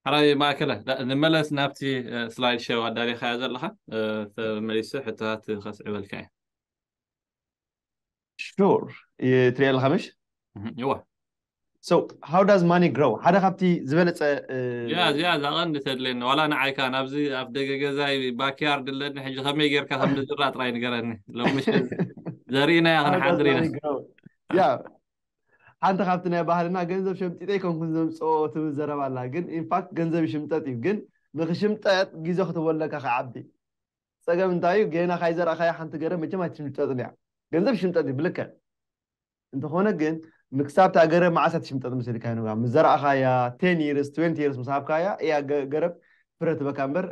ሐራይ ማእከለ ንመለስ ናብቲ ስላይድ ሸው ኣዳሊኻዮ ዘለኻ ተመሊሱ ሕቶታት ከስዕበልካ እየ። Sure ትሪኦ ኣለኻ ምሽ? እወ። So how does money grow ሓደ ካብቲ ዝበለጸ እዚኣ እዚኣ እዛ ቀንዲ ተድልየኒ ዋላ ንዓይ ከኣ ናብዚ ኣፍ ደገ ገዛይ ባክያርድ ኣለኒ ሕጂ ከመይ ጌርካ ከም ንዝራእ ጥራይ ንገረኒ ሎሚ ምሸት ዘሪእናያ ክንሓድር ኢና ያ ሓንቲ ካብቲ ናይ ባህልና ገንዘብ ሸምጢጠ ኣይኮንኩን ዘምጽኦ ትብል ዘረባ ኣላ ግን in fact ገንዘብ ይሽምጠጥ እዩ ግን ንክሽምጠጥ ግዜ ክትህቦ ኣለካ ክዓቢ ጸገም እንታይ እዩ ጌና ካይዘራእካያ ሓንቲ ገረብ መቸም ኣይትሽምጠጥን እያ ገንዘብ ይሽምጠጥ እዩ ብልክዕ እንተኾነ ግን ንክሳብ እታ ገረብ መዓስ እያ ትሽምጠጥ መሲልካ ኑጋ ምስ ዘራእካያ ten years twenty years ምስ ሃብካያ እያ ገረብ ፍረ ትህበካ እምበር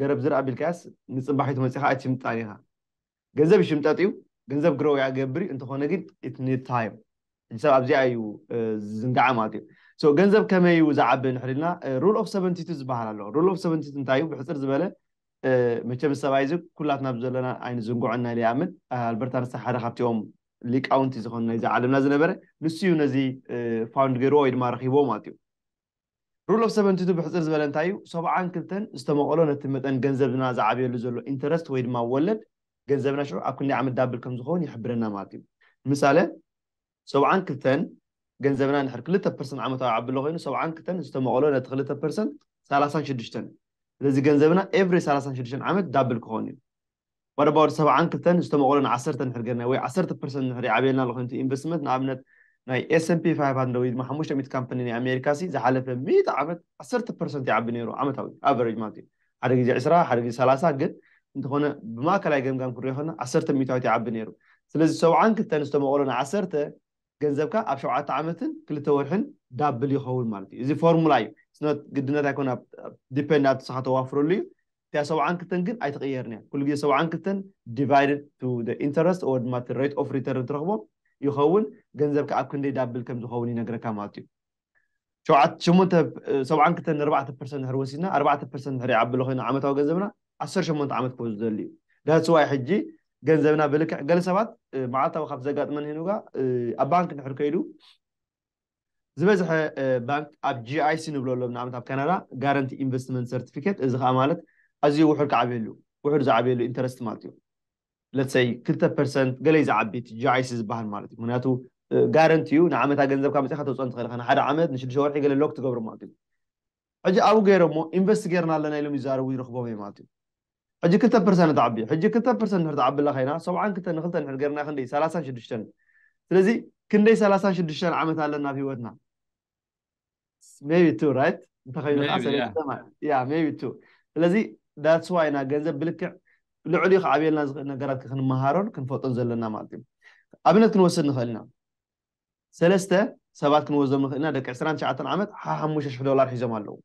ገረብ ዝር ኣቢልካያስ ንጽባሒቱ መጺኻ ኣይትሽምጣን ኢኻ ገንዘብ ይሽምጠጥ እዩ ገንዘብ ግሮው ያገብር እዩ እንተኾነ ግን it need time ሕጂ ሰብ ኣብዚኣ እዩ ዝዝንጋዓ ማለት እዩ so ገንዘብ ከመይ እዩ ዝዓቢ ንሕሪ ኢልና rule of 72 ዝበሃል ኣሎ rule of 72 እንታይ እዩ ብሕጽር ዝበለ መቸም ሰብኣይ እዚ ኩላትና ብዘለና ኣይንዝንግዖን ናይ ይኣምን ኣልበርት ኣንስታ ሓደ ካብቲኦም ሊቃውንቲ ዝኾኑ ናይዚ ዓለምና ዝነበረ ንሱ እዩ ነዚ ፋውንድ ገይርዎ ወይ ድማ ረኺብዎ ማለት እዩ Rule of Seventy-Two ብሕጽር ዝበለ እንታይ እዩ? ሰብዓን ክልተን ዝተመቐሎ ነቲ መጠን ገንዘብና ዝዓብየሉ ዘሎ ኢንተረስት ወይ ድማ ወለድ ገንዘብና ሽዑ ኣብ ክንደይ ዓመት ዳብል ከም ዝኸውን ይሕብረና ማለት እዩ። ንምሳለ ሰብዓን ክልተን ገንዘብና እንድሕር ክልተ ፐርሰንት ዓመታዊ ዓብሎ ኮይኑ ሰብዓን ክልተን ዝተመቐሎ ነቲ ክልተ ፐርሰንት ሰላሳን ሽዱሽተን ስለዚ ገንዘብና ኤቭሪ ሰላሳን ሽዱሽተን ዓመት ዳብል ክኸውን እዩ። what about ሰብዓን ክልተን ዝተመቕሎ ን ዓሰርተ እንድሕር ጌርናዮ ወይ ዓሰርተ ፐርሰንት እንድሕር ይዓብየልና ኣሎ ኮይኑቲ ኢንቨስትመንት ንኣብነት ናይ ኤሰንፒ ፋይፍ ሃንድረድ ወይ ድማ ሓሙሽተ ሚእቲ ካምፐኒ ናይ ኣሜሪካ ሲ ዝሓለፈ ሚእቲ ዓመት ዓሰርተ ፐርሰንት ይዓቢ ኔሩ ዓመታዊ ኣቨረጅ ማለት እዩ ሓደ ግዜ ዕስራ ሓደ ግዜ ሰላሳ ግን እንተኾነ ብማእከላይ ገምጋም ክንሪኦ ከለና ዓሰርተ ሚእታዊት ይዓቢ ኔሩ ስለዚ ሰብዓን ክልተን ዝተመቕሎ ን ዓሰርተ ገንዘብካ ኣብ ሸውዓተ ዓመትን ክልተ ወርሕን ዳብል ይኸውን ማለት እዩ። እዚ ፎርሙላ እዩ። It's not ግድነት ኣይኮነን ኣብ depend ኣብቲ ንስኻ ተዋፍረሉ እዩ። እቲኣ ሰብዓን ክልተን ግን ኣይትቕየርን እያ። ኩሉ ግዜ ሰብዓን ክልተን divided to the interest or ድማ እቲ rate of return እትረኽቦ ይኸውን። ገንዘብካ ኣብ ክንደይ ዳብል ከም ዝኸውን ይነግረካ ማለት እዩ። ሸውዓተ ሸሞንተ ሰብዓን ክልተን ንኣርባዕተ ፐርሰንት ድሕሪ ወሲድና ኣርባዕተ ፐርሰንት ድሕሪ ይዓቢ ኣሎ ኮይኑ ዓመታዊ ገንዘብና ዓሰርተ ሸሞንተ ዓመት ክወስድ ዝደሊ እዩ ዳትስ ዋይ ሕጂ ገንዘብና ብልክዕ ገለ ሰባት መዓልታዊ ካብቲ ዘጋጥመን ሄኑጋ ኣብ ባንክ ድሕሪ ከይዱ ዝበዝሐ ባንክ ኣብ GIC ንብሎ ኣሎም ንኣብነት ኣብ ካናዳ ጋረንቲ ኢንቨስትመንት ሰርቲፊኬት እዚ ከዓ ማለት ኣዝዩ ውሑድ ክዓብየሉ ውሑድ ዝዓብየሉ ኢንተረስት ማለት እዩ let's say ክልተ ፐርሰንት ገለይ ዝዓቢ እቲ GIC ዝበሃል ማለት እዩ ምክንያቱ ጋረንቲ እዩ ንዓመታ ገንዘብካ ኣምጺኻ ተውጽኦ ንትኽእል ኢኻ ንሓደ ዓመት ንሽዱሽተ ወርሒ ገለ ሎክ ትገብሮ ማለት እዩ ሕጂ ኣብኡ ገይሮሞ ኢንቨስት ገይርና ኣለና ኢሎም ይዛረቡ ይረኽቦም እየ ማለት እዩ ሕጂ ክልተ ፐርሰንት ተዓቢ ሕጂ ክልተ ፐርሰንት ንድሕር ተዓብላ ኮይና ሰብዓን ክልተ ንክልተ ንድሕር ገይርና ክንደይ ሰላሳን ሽዱሽተን ስለዚ ክንደይ ሰላሳን ሽዱሽተን ዓመት ኣለና ኣብ ሂወትና ሜይቢ ቱ ራይት እንተኸይኑ ከዓ ሰለስተ ማለት ያ ሜይቢ ቱ ስለዚ ዳትስ ዋይ ኢና ገንዘብ ብልክዕ ልዕሊ ክዓብየልና ዝኽእል ነገራት ክንመሃሮን ክንፈልጦን ዘለና ማለት እዩ ኣብነት ክንወስድ ንኽእል ኢና ሰለስተ ሰባት ክንወስዶም ንኽእል ኢና ደቂ ዕስራን ትሽዓተን ዓመት ሓሙሽተ ሽሕ ዶላር ሒዞም ኣለዉ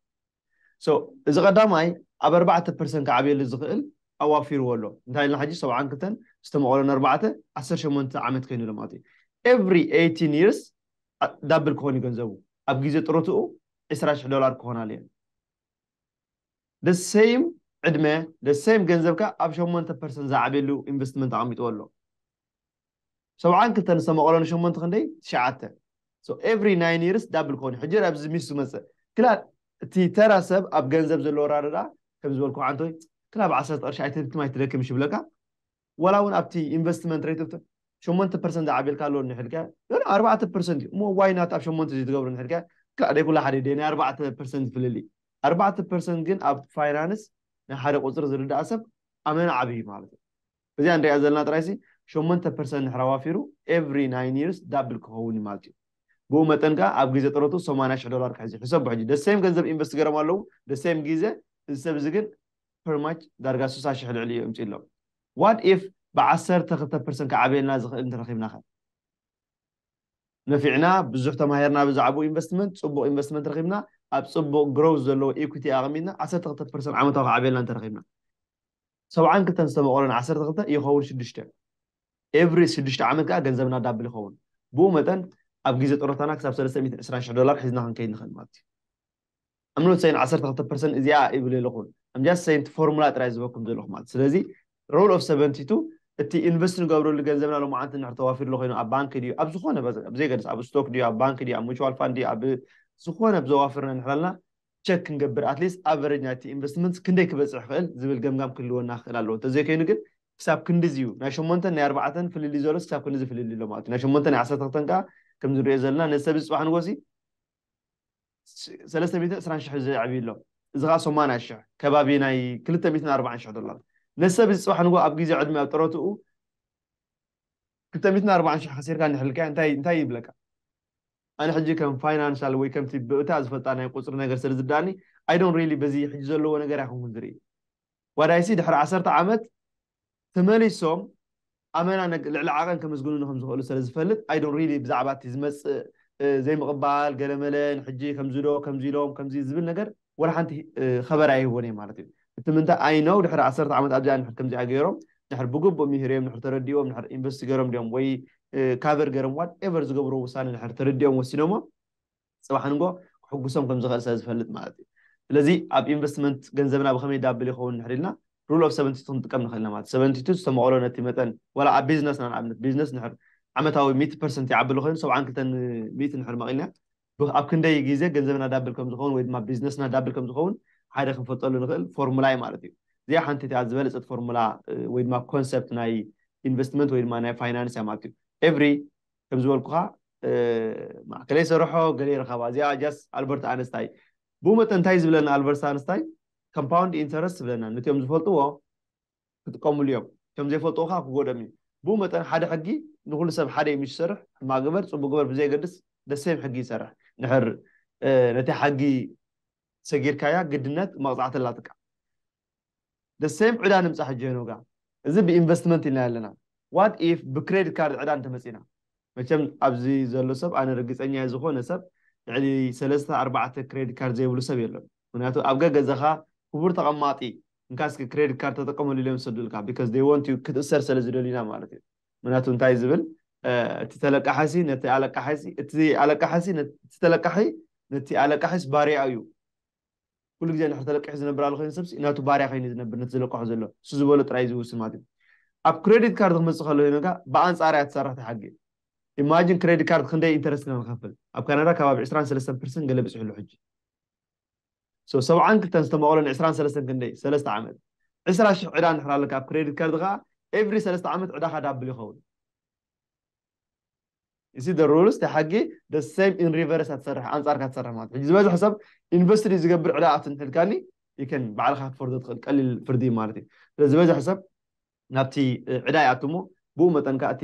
so እዚ ቀዳማይ ኣብ ኣርባዕተ ፐርሰን ክዓብየሉ ዝኽእል ኣዋፊርዎ ኣሎ እንታይ ኢልና ሕጂ ሰብዓን ክልተን ዝተመቐሎ ንኣርባዕተ ዓሰርተ ሸሞንተ ዓመት ከይኑ ኣሎ ማለት እዩ ኤቭሪ ኤይቲን ይርስ ዳብል ክኾን እዩ ገንዘቡ ኣብ ግዜ ጥሮትኡ ዕስራ ሽሕ ዶላር ክኾን ኣለዮ the same ዕድመ the same ገንዘብካ ኣብ ሸሞንተ ፐርሰን ዝዓብየሉ ኢንቨስትመንት ኣቐሚጥዎ ኣሎ ሰብዓን ክልተን ዝተ መቐሎ ንሸሞንተ ክንደይ ትሽዓተ so every nine years ዳብል ክኾን ሕጂ ኣብዚ ሚስ ዝመጽእ ክላ እቲ ተራ ሰብ ኣብ ገንዘብ ዘለዎ ራደዳ ከም ዝበልኩ ዓንቶ ክላ ብ ዓሰርተ ቅርሺ ኣይትህብትም ኣይትደክም ሽብለካ ወላ እውን ኣብቲ ኢንቨስትመንት ሬት ኦፍ ሸሞንተ ፐርሰንት ዝዓብየልካ ኣሎ ንሕልካ ሎሎ ኣርባዕተ ፐርሰንት እዩ እሞ ዋይ ናት ኣብ ሸሞንተ ዘይትገብሩ ንሕልካ ክላ ደይ ኩላ ሓደ ደይ ናይ ኣርባዕተ ፐርሰንት ፍልልይ ኣርባዕተ ፐርሰንት ግን ኣብ ፋይናንስ ናይ ሓደ ቁፅሪ ዝርዳእ ሰብ ኣመና ዓብይ ማለት እዩ እዚኣ ንሪኣ ዘለና ጥራይሲ ሸሞንተ ፐርሰንት እንድሕር ኣዋፊሩ ኤቭሪ ናይን ይርስ ዳብል ክኸውን እዩ ማለት እዩ። ብኡ መጠን ከኣ ኣብ ግዜ ጥሮትኡ ሰማንያ ሽሕ ዶላር ክሕዝ እዩ። ሕሰቦ ሕጂ the same ገንዘብ ኢንቨስት ገይሮም ኣለዉ the same ግዜ እዚ ሰብ እዚ ግን per much ዳርጋ ስሳ ሽሕ ልዕሊኡ የምጺእሎም። What if ብ ዓሰርተ ክልተ ፐርሰንት ክዓብየልና ዝኽእል እንተረኺብናኸ? ነፊዕና ብዙሕ ተማሂርና ብዛዕብኡ ኢንቨስትመንት ጽቡቕ ኢንቨስትመንት ረኺብና ኣብ ጽቡቕ growth ዘለዎ equity ኣቐሚጥና ዓሰርተ ክልተ ፐርሰንት ዓመታዊ ክዓብየልና እንተረኺብና። ሰብዓን ክልተን ዝተመቐሎ ን ዓሰርተ ክልተ ይኸውን ሽዱሽተ ኤቭሪ ሽዱሽተ ዓመት ከኣ ገንዘብና ዳብል ይኸውን ብኡ መጠን ኣብ ግዜ ጥሮታና ክሳብ ሰለስተ ሚእትን ዕስራን ሽሕ ዶላር ሒዝና ክንከይድ ንኽእል ማለት እዩ I'm not saying ዓሰርተ ክልተ ፐርሰንት እዚኣ ይብል የለኹ I'm just saying እቲ ፎርሙላ ጥራይ ዝበኩም ዘለኹ ማለት ስለዚ ሮል ኦፍ ሰቨንቲ ቱ እቲ ኢንቨስት ንገብረሉ ገንዘብና ሎማዓንቲ ንድሕር ተዋፊርሉ ኮይኑ ኣብ ባንኪ ድዩ ኣብ ዝኾነ ብዘይገድስ ኣብ ስቶክ ድዩ ኣብ ባንኪ ድዩ ኣብ ሙቹዋል ፋንድ ድዩ ኣብ ዝኾነ ብዘዋፍርና ንሕላልና ቸክ ክንገብር ኣትሊስት ኣቨረጅ ናይቲ ኢንቨስትመንት ክንደይ ክበፅሕ ይኽእል ዝብል ገምጋም ክህልወና ክኽእል ኣለዎ እንተዘይኮይኑ ግን ክሳብ ክንድዚ እዩ ናይ ሸሞንተን ናይ ኣርባዕተን ፍልልይ ዘሎስ ክሳብ ክንድዚ ፍልልይ ኣሎ ማለት እዩ ናይ ሸሞንተን ናይ ዓሰርተ ክልተን ከዓ ከምዚ ንሪኦ ዘለና ነዚ ሰብ እዚ ፅባሕ ንጎሲ ሰለስተ ሚእትን ዕስራን ሽሕ ዘዕብይ ኣሎ እዚ ከዓ ሰማንያ ሽሕ ከባቢ ናይ ክልተ ሚእትን ኣርባዓን ሽሕ ዶላር ነዚ ሰብ እዚ ፅባሕ ንጎ ኣብ ግዜ ዕድመ ኣብ ጥረትኡ ክልተ ሚእትን ኣርባዓን ሽሕ ከሲርካ እንድሕልካዮ እንታይ እንታይ ይብለካ ኣነ ሕጂ ከም ፋይናንሻል ወይ ከምቲ ብእታ ዝፈልጣ ናይ ቁጽሪ ነገር ስለ ዝርድኣኒ ኣይ ዶን ሪሊ በዚ ሕጂ ዘለዎ ነገር ኣይኮንኩን ዝርኢ ዋዳይሲ ድሕሪ ዓሰርተ ዓመት ተመሊሶም ኣመና ልዕሊ ዓቐን ከምስግኑኒ ከም ዝኽእሉ ስለ ዝፈልጥ ኣይ ዶን ሪሊ ብዛዕባ እቲ ዝመጽእ ዘይምቕባል ገለመለ ንሕጂ ከምዚ ዶ ከምዚ ኢሎም ከምዚ ዝብል ነገር ወላ ሓንቲ ኸበር ኣይህቡን እዮም ማለት እዩ እቲ ምንታይ ኣይ ነው ድሕሪ ዓሰርተ ዓመት ኣብዚኣ ንድሕር ከምዚኣ ገይሮም ድሕር ብግቡእ ምሂርዮም ድሕር ተረዲዎም ድሕር ኢንቨስት ገይሮም ድዮም ወይ ካቨር ገይሮም ዋት ኤቨር ዝገብርዎ ውሳነ ድሕር ተረዲኦም ወሲኖሞ ፅባሕ ንጎ ክሕጉሶም ከም ዝኽእል ስለ ዝፈልጥ ማለት እዩ ስለዚ ኣብ ኢንቨስትመንት ገንዘብና ብኸመይ ዳብል ይኸውን ድሕር ኢልና ሩል ኦፍ ሰቨንቲ ቱ ክንጥቀም ንኽእል ኢና ማለት ሰቨንቲ ቱ ዝተመቐሎ ነቲ መጠን ዋላ ኣብ ቢዝነስና ንኣብነት ቢዝነስ ድሕር ዓመታዊ ሚእቲ ፐርሰንት ይዓቢ ኣሎ ኮይኑ ሰብዓን ክልተን ሚእቲ ድሕር መቒልና ብ ኣብ ክንደይ ግዜ ገንዘብና ዳብል ከም ዝኸውን ወይ ድማ ቢዝነስና ዳብል ከም ዝኸውን ሓደ ክንፈልጠሉ ንኽእል ፎርሙላ እዩ ማለት እዩ። እዚኣ ሓንቲ እቲኣ ዝበለጸት ፎርሙላ ወይ ድማ ኮንሰፕት ናይ ኢንቨስትመንት ወይ ድማ ናይ ፋይናንስ እያ ማለት እዩ። ኤቭሪ ከም ዝበልኩኻ ማእከለይ ሰርሖ ገለይ ረኸባ እዚኣ ጃስት ኣልበርት ኣነስታይ ብኡ መጠን እንታይ እዩ ዝብለና ኣልበርት ኣነስታይ ኮምፓውንድ ኢንተረስት ዝብለና ነቲኦም ዝፈልጥዎ ክጥቀምሉ እዮም። እቶም ዘይፈልጥዎ ከኣ ክጎድኦም እዩ። ብኡ መጠን ሓደ ሕጊ ንኹሉ ሰብ ሓደ እዩ ምስ ዝሰርሕ፣ ሕማቕ ግበር ጽቡቕ ግበር ብዘየገድስ the same ሕጊ ይሰርሕ። እንድሕር ነታ ሕጊ ሰጊርካያ ግድነት መቕጻዕቲ ኣላትካ። the same ዕዳ ንምጻ ሕጂ ሄኖጋ እዚ ብኢንቨስትመንት ኢልናዮ ኣለና። what if ብክሬዲት ካርድ ዕዳ እንተመጺእና? መቸም ኣብዚ ዘሎ ሰብ ኣነ ርግጸኛ እየ ዝኾነ ሰብ ልዕሊ ሰለስተ ኣርባዕተ ክሬዲት ካርድ ዘይብሉ ሰብ የሎን። ምኽንያቱ ኣብ ገገዛኻ ክቡር ተቐማጢ እንካ እስኪ ክሬዲት ካርድ ተጠቀመሉ ኢሎም ዝሰዱልካ because they want you ክትእሰር ስለ ዝደልዩ ኢና ማለት እዩ ምክንያቱ እንታይ እዩ ዝብል እቲ ተለቃሓሲ ነቲ ኣለቃሓሲ እቲ ኣለቃሓሲ እቲ ተለቃሒ ነቲ ኣለቃሒስ ባርያ እዩ ኩሉ ግዜ ንድሕር ተለቂሑ ዝነብር ኣሎ ኮይኑ ሰብሲ ናቱ ባርያ ኮይኑ ዝነብር ነቲ ዝለቀሖ ዘሎ እሱ ዝበሎ ጥራይ ዝውስን ማለት እዩ ኣብ ክሬዲት ካርድ ክመፅእ ከሎ ኮይኑካ ብኣንፃር እያ ትሰርሕ ትሓጊ ኢማጂን ክሬዲት ካርድ ክንደይ ኢንተረስት ኢና ንኸፍል ኣብ ካናዳ ከባቢ 23 ፐርሰንት ገለ ብፅሑ ኣሎ ሕጂ so ሰብዓን ክልተን ዝተመቐሎን ዕስራን ሰለስተን ክንደይ ሰለስተ ዓመት ዕስራ ሽሕ ዕዳ እንድሕር ኣለካ ኣብ ክሬዲት ካርድ ከኣ ኤቭሪ ሰለስተ ዓመት ዕዳኻ ዳብል ይኸውን you see the rules እቲ ሓጊ the same in reverse ኣትሰርሕ ኣንጻርካ ትሰርሕ ማለት ሕጂ ዝበዝሕ ሰብ ኢንቨስትሪ ዝገብር ዕዳ ኣትንሕልካኒ you can ባዕልካ ክትፈርዶ ትኽእል ቀሊል ፍርዲ ማለት እዩ ስለዚ ዝበዝሕ ሰብ ናብቲ ዕዳ ይኣቱ እሞ ብኡ መጠን ከኣ እቲ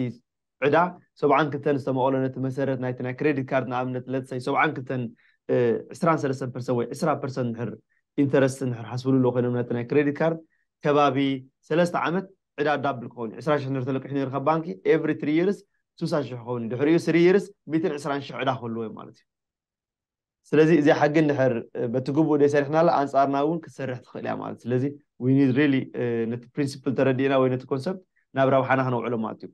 ዕዳ ሰብዓን ክልተን ዝተመቐሎ ነቲ መሰረት ናይቲ ናይ ክሬዲት ካርድ ንኣብነት let say ሰብዓን ክልተን ዕስራን ሰለስተን ፐርሰንት ወይ ዕስራ ፐርሰንት እንድሕር ኢንተረስት እንድሕር ሓስብሉሎ ኮይኖም ነቲ ናይ ክሬዲት ካርድ ከባቢ ሰለስተ ዓመት ዕዳ ዳብል ክኸውን እዩ ዕስራ ሽሕ እንድሕር ተለቂሑ ነይሩ ካብ ባንኪ every three years ስሳ ሽሕ ክኸውን እዩ ድሕሪኡ three years ሚእትን ዕስራን ሽሕ ዕዳ ክህልዎ እዩ ማለት እዩ። ስለዚ እዚኣ ሕጊ እንድሕር በቲ ግቡእ ዘይሰሪሕናላ ኣንጻርና እውን ክትሰርሕ ትኽእል እያ ማለት ስለዚ we need really ነቲ ፕሪንሲፕል ተረዲእና ወይ ነቲ ኮንሰፕት ናብ ረብሓና ክነውዕሎ ማለት እዩ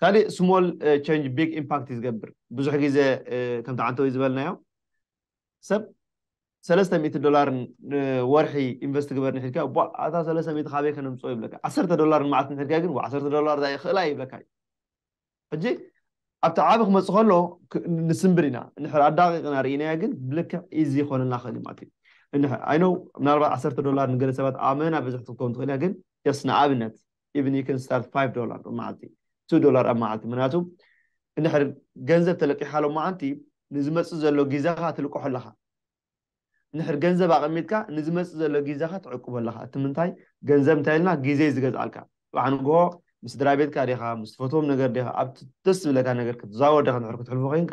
ካልእ ስሞል ቸንጅ ቢግ ኢምፓክት እዩ ዝገብር ብዙሕ ግዜ ከምቲ ዓንተወይ ዝበልናዮ ሰብ ሰለስተ ሚእቲ ዶላር ወርሒ ኢንቨስት ግበር ንሒልካ ቧ ኣታ ሰለስተ ሚእቲ ካበይ ከነምፅኦ ይብለካ ዓሰርተ ዶላር ንመዓልቲ ንሒልካ ግን ዓሰርተ ዶላር እዛ ይኽእላ ይብለካ እዩ ሕጂ ኣብቲ ዓቢ ክመጽእ ከሎ ንስንብድ ኢና እንሕር ኣዳቂቅና ርኢናዮ ግን ብልክዕ ኢዚ ኮነልና ክእል እዩ ማለት እዩ እንሕር ኣይ ኖው ምናልባት ዓሰርተ ዶላር ንገለ ሰባት ኣመና ብዝሕ ክትከውን ትክእል እያ ግን ጀስት ንኣብነት ኢቭን ዩ ከን ስታርት ፋይቭ ዶላር ኣብ መዓልቲ ቱ ዶላር ኣብ መዓልቲ ምክንያቱ እንድሕር ገንዘብ ተለቂሓ ሎመዓንቲ ንዝመጽእ ዘሎ ግዜኻ ትልቅሖ ኣለኻ እንድሕር ገንዘብ ኣቐሚጥካ ንዝመጽእ ዘሎ ጊዘኻ ትዕቅቦ ኣለኻ እቲ ምንታይ ገንዘብ እንታይ ኢልና ጊዘ እዩ ዝገዝኣልካ ጽባሕ ንግሆ ምስ ስድራቤትካ ዲኻ ምስ ትፈትዎም ነገር ዲኻ ኣብቲ ደስ ዝብለካ ነገር ክትዛወር ዲኻ እንድሕር ክትሕልፎ ኬንካ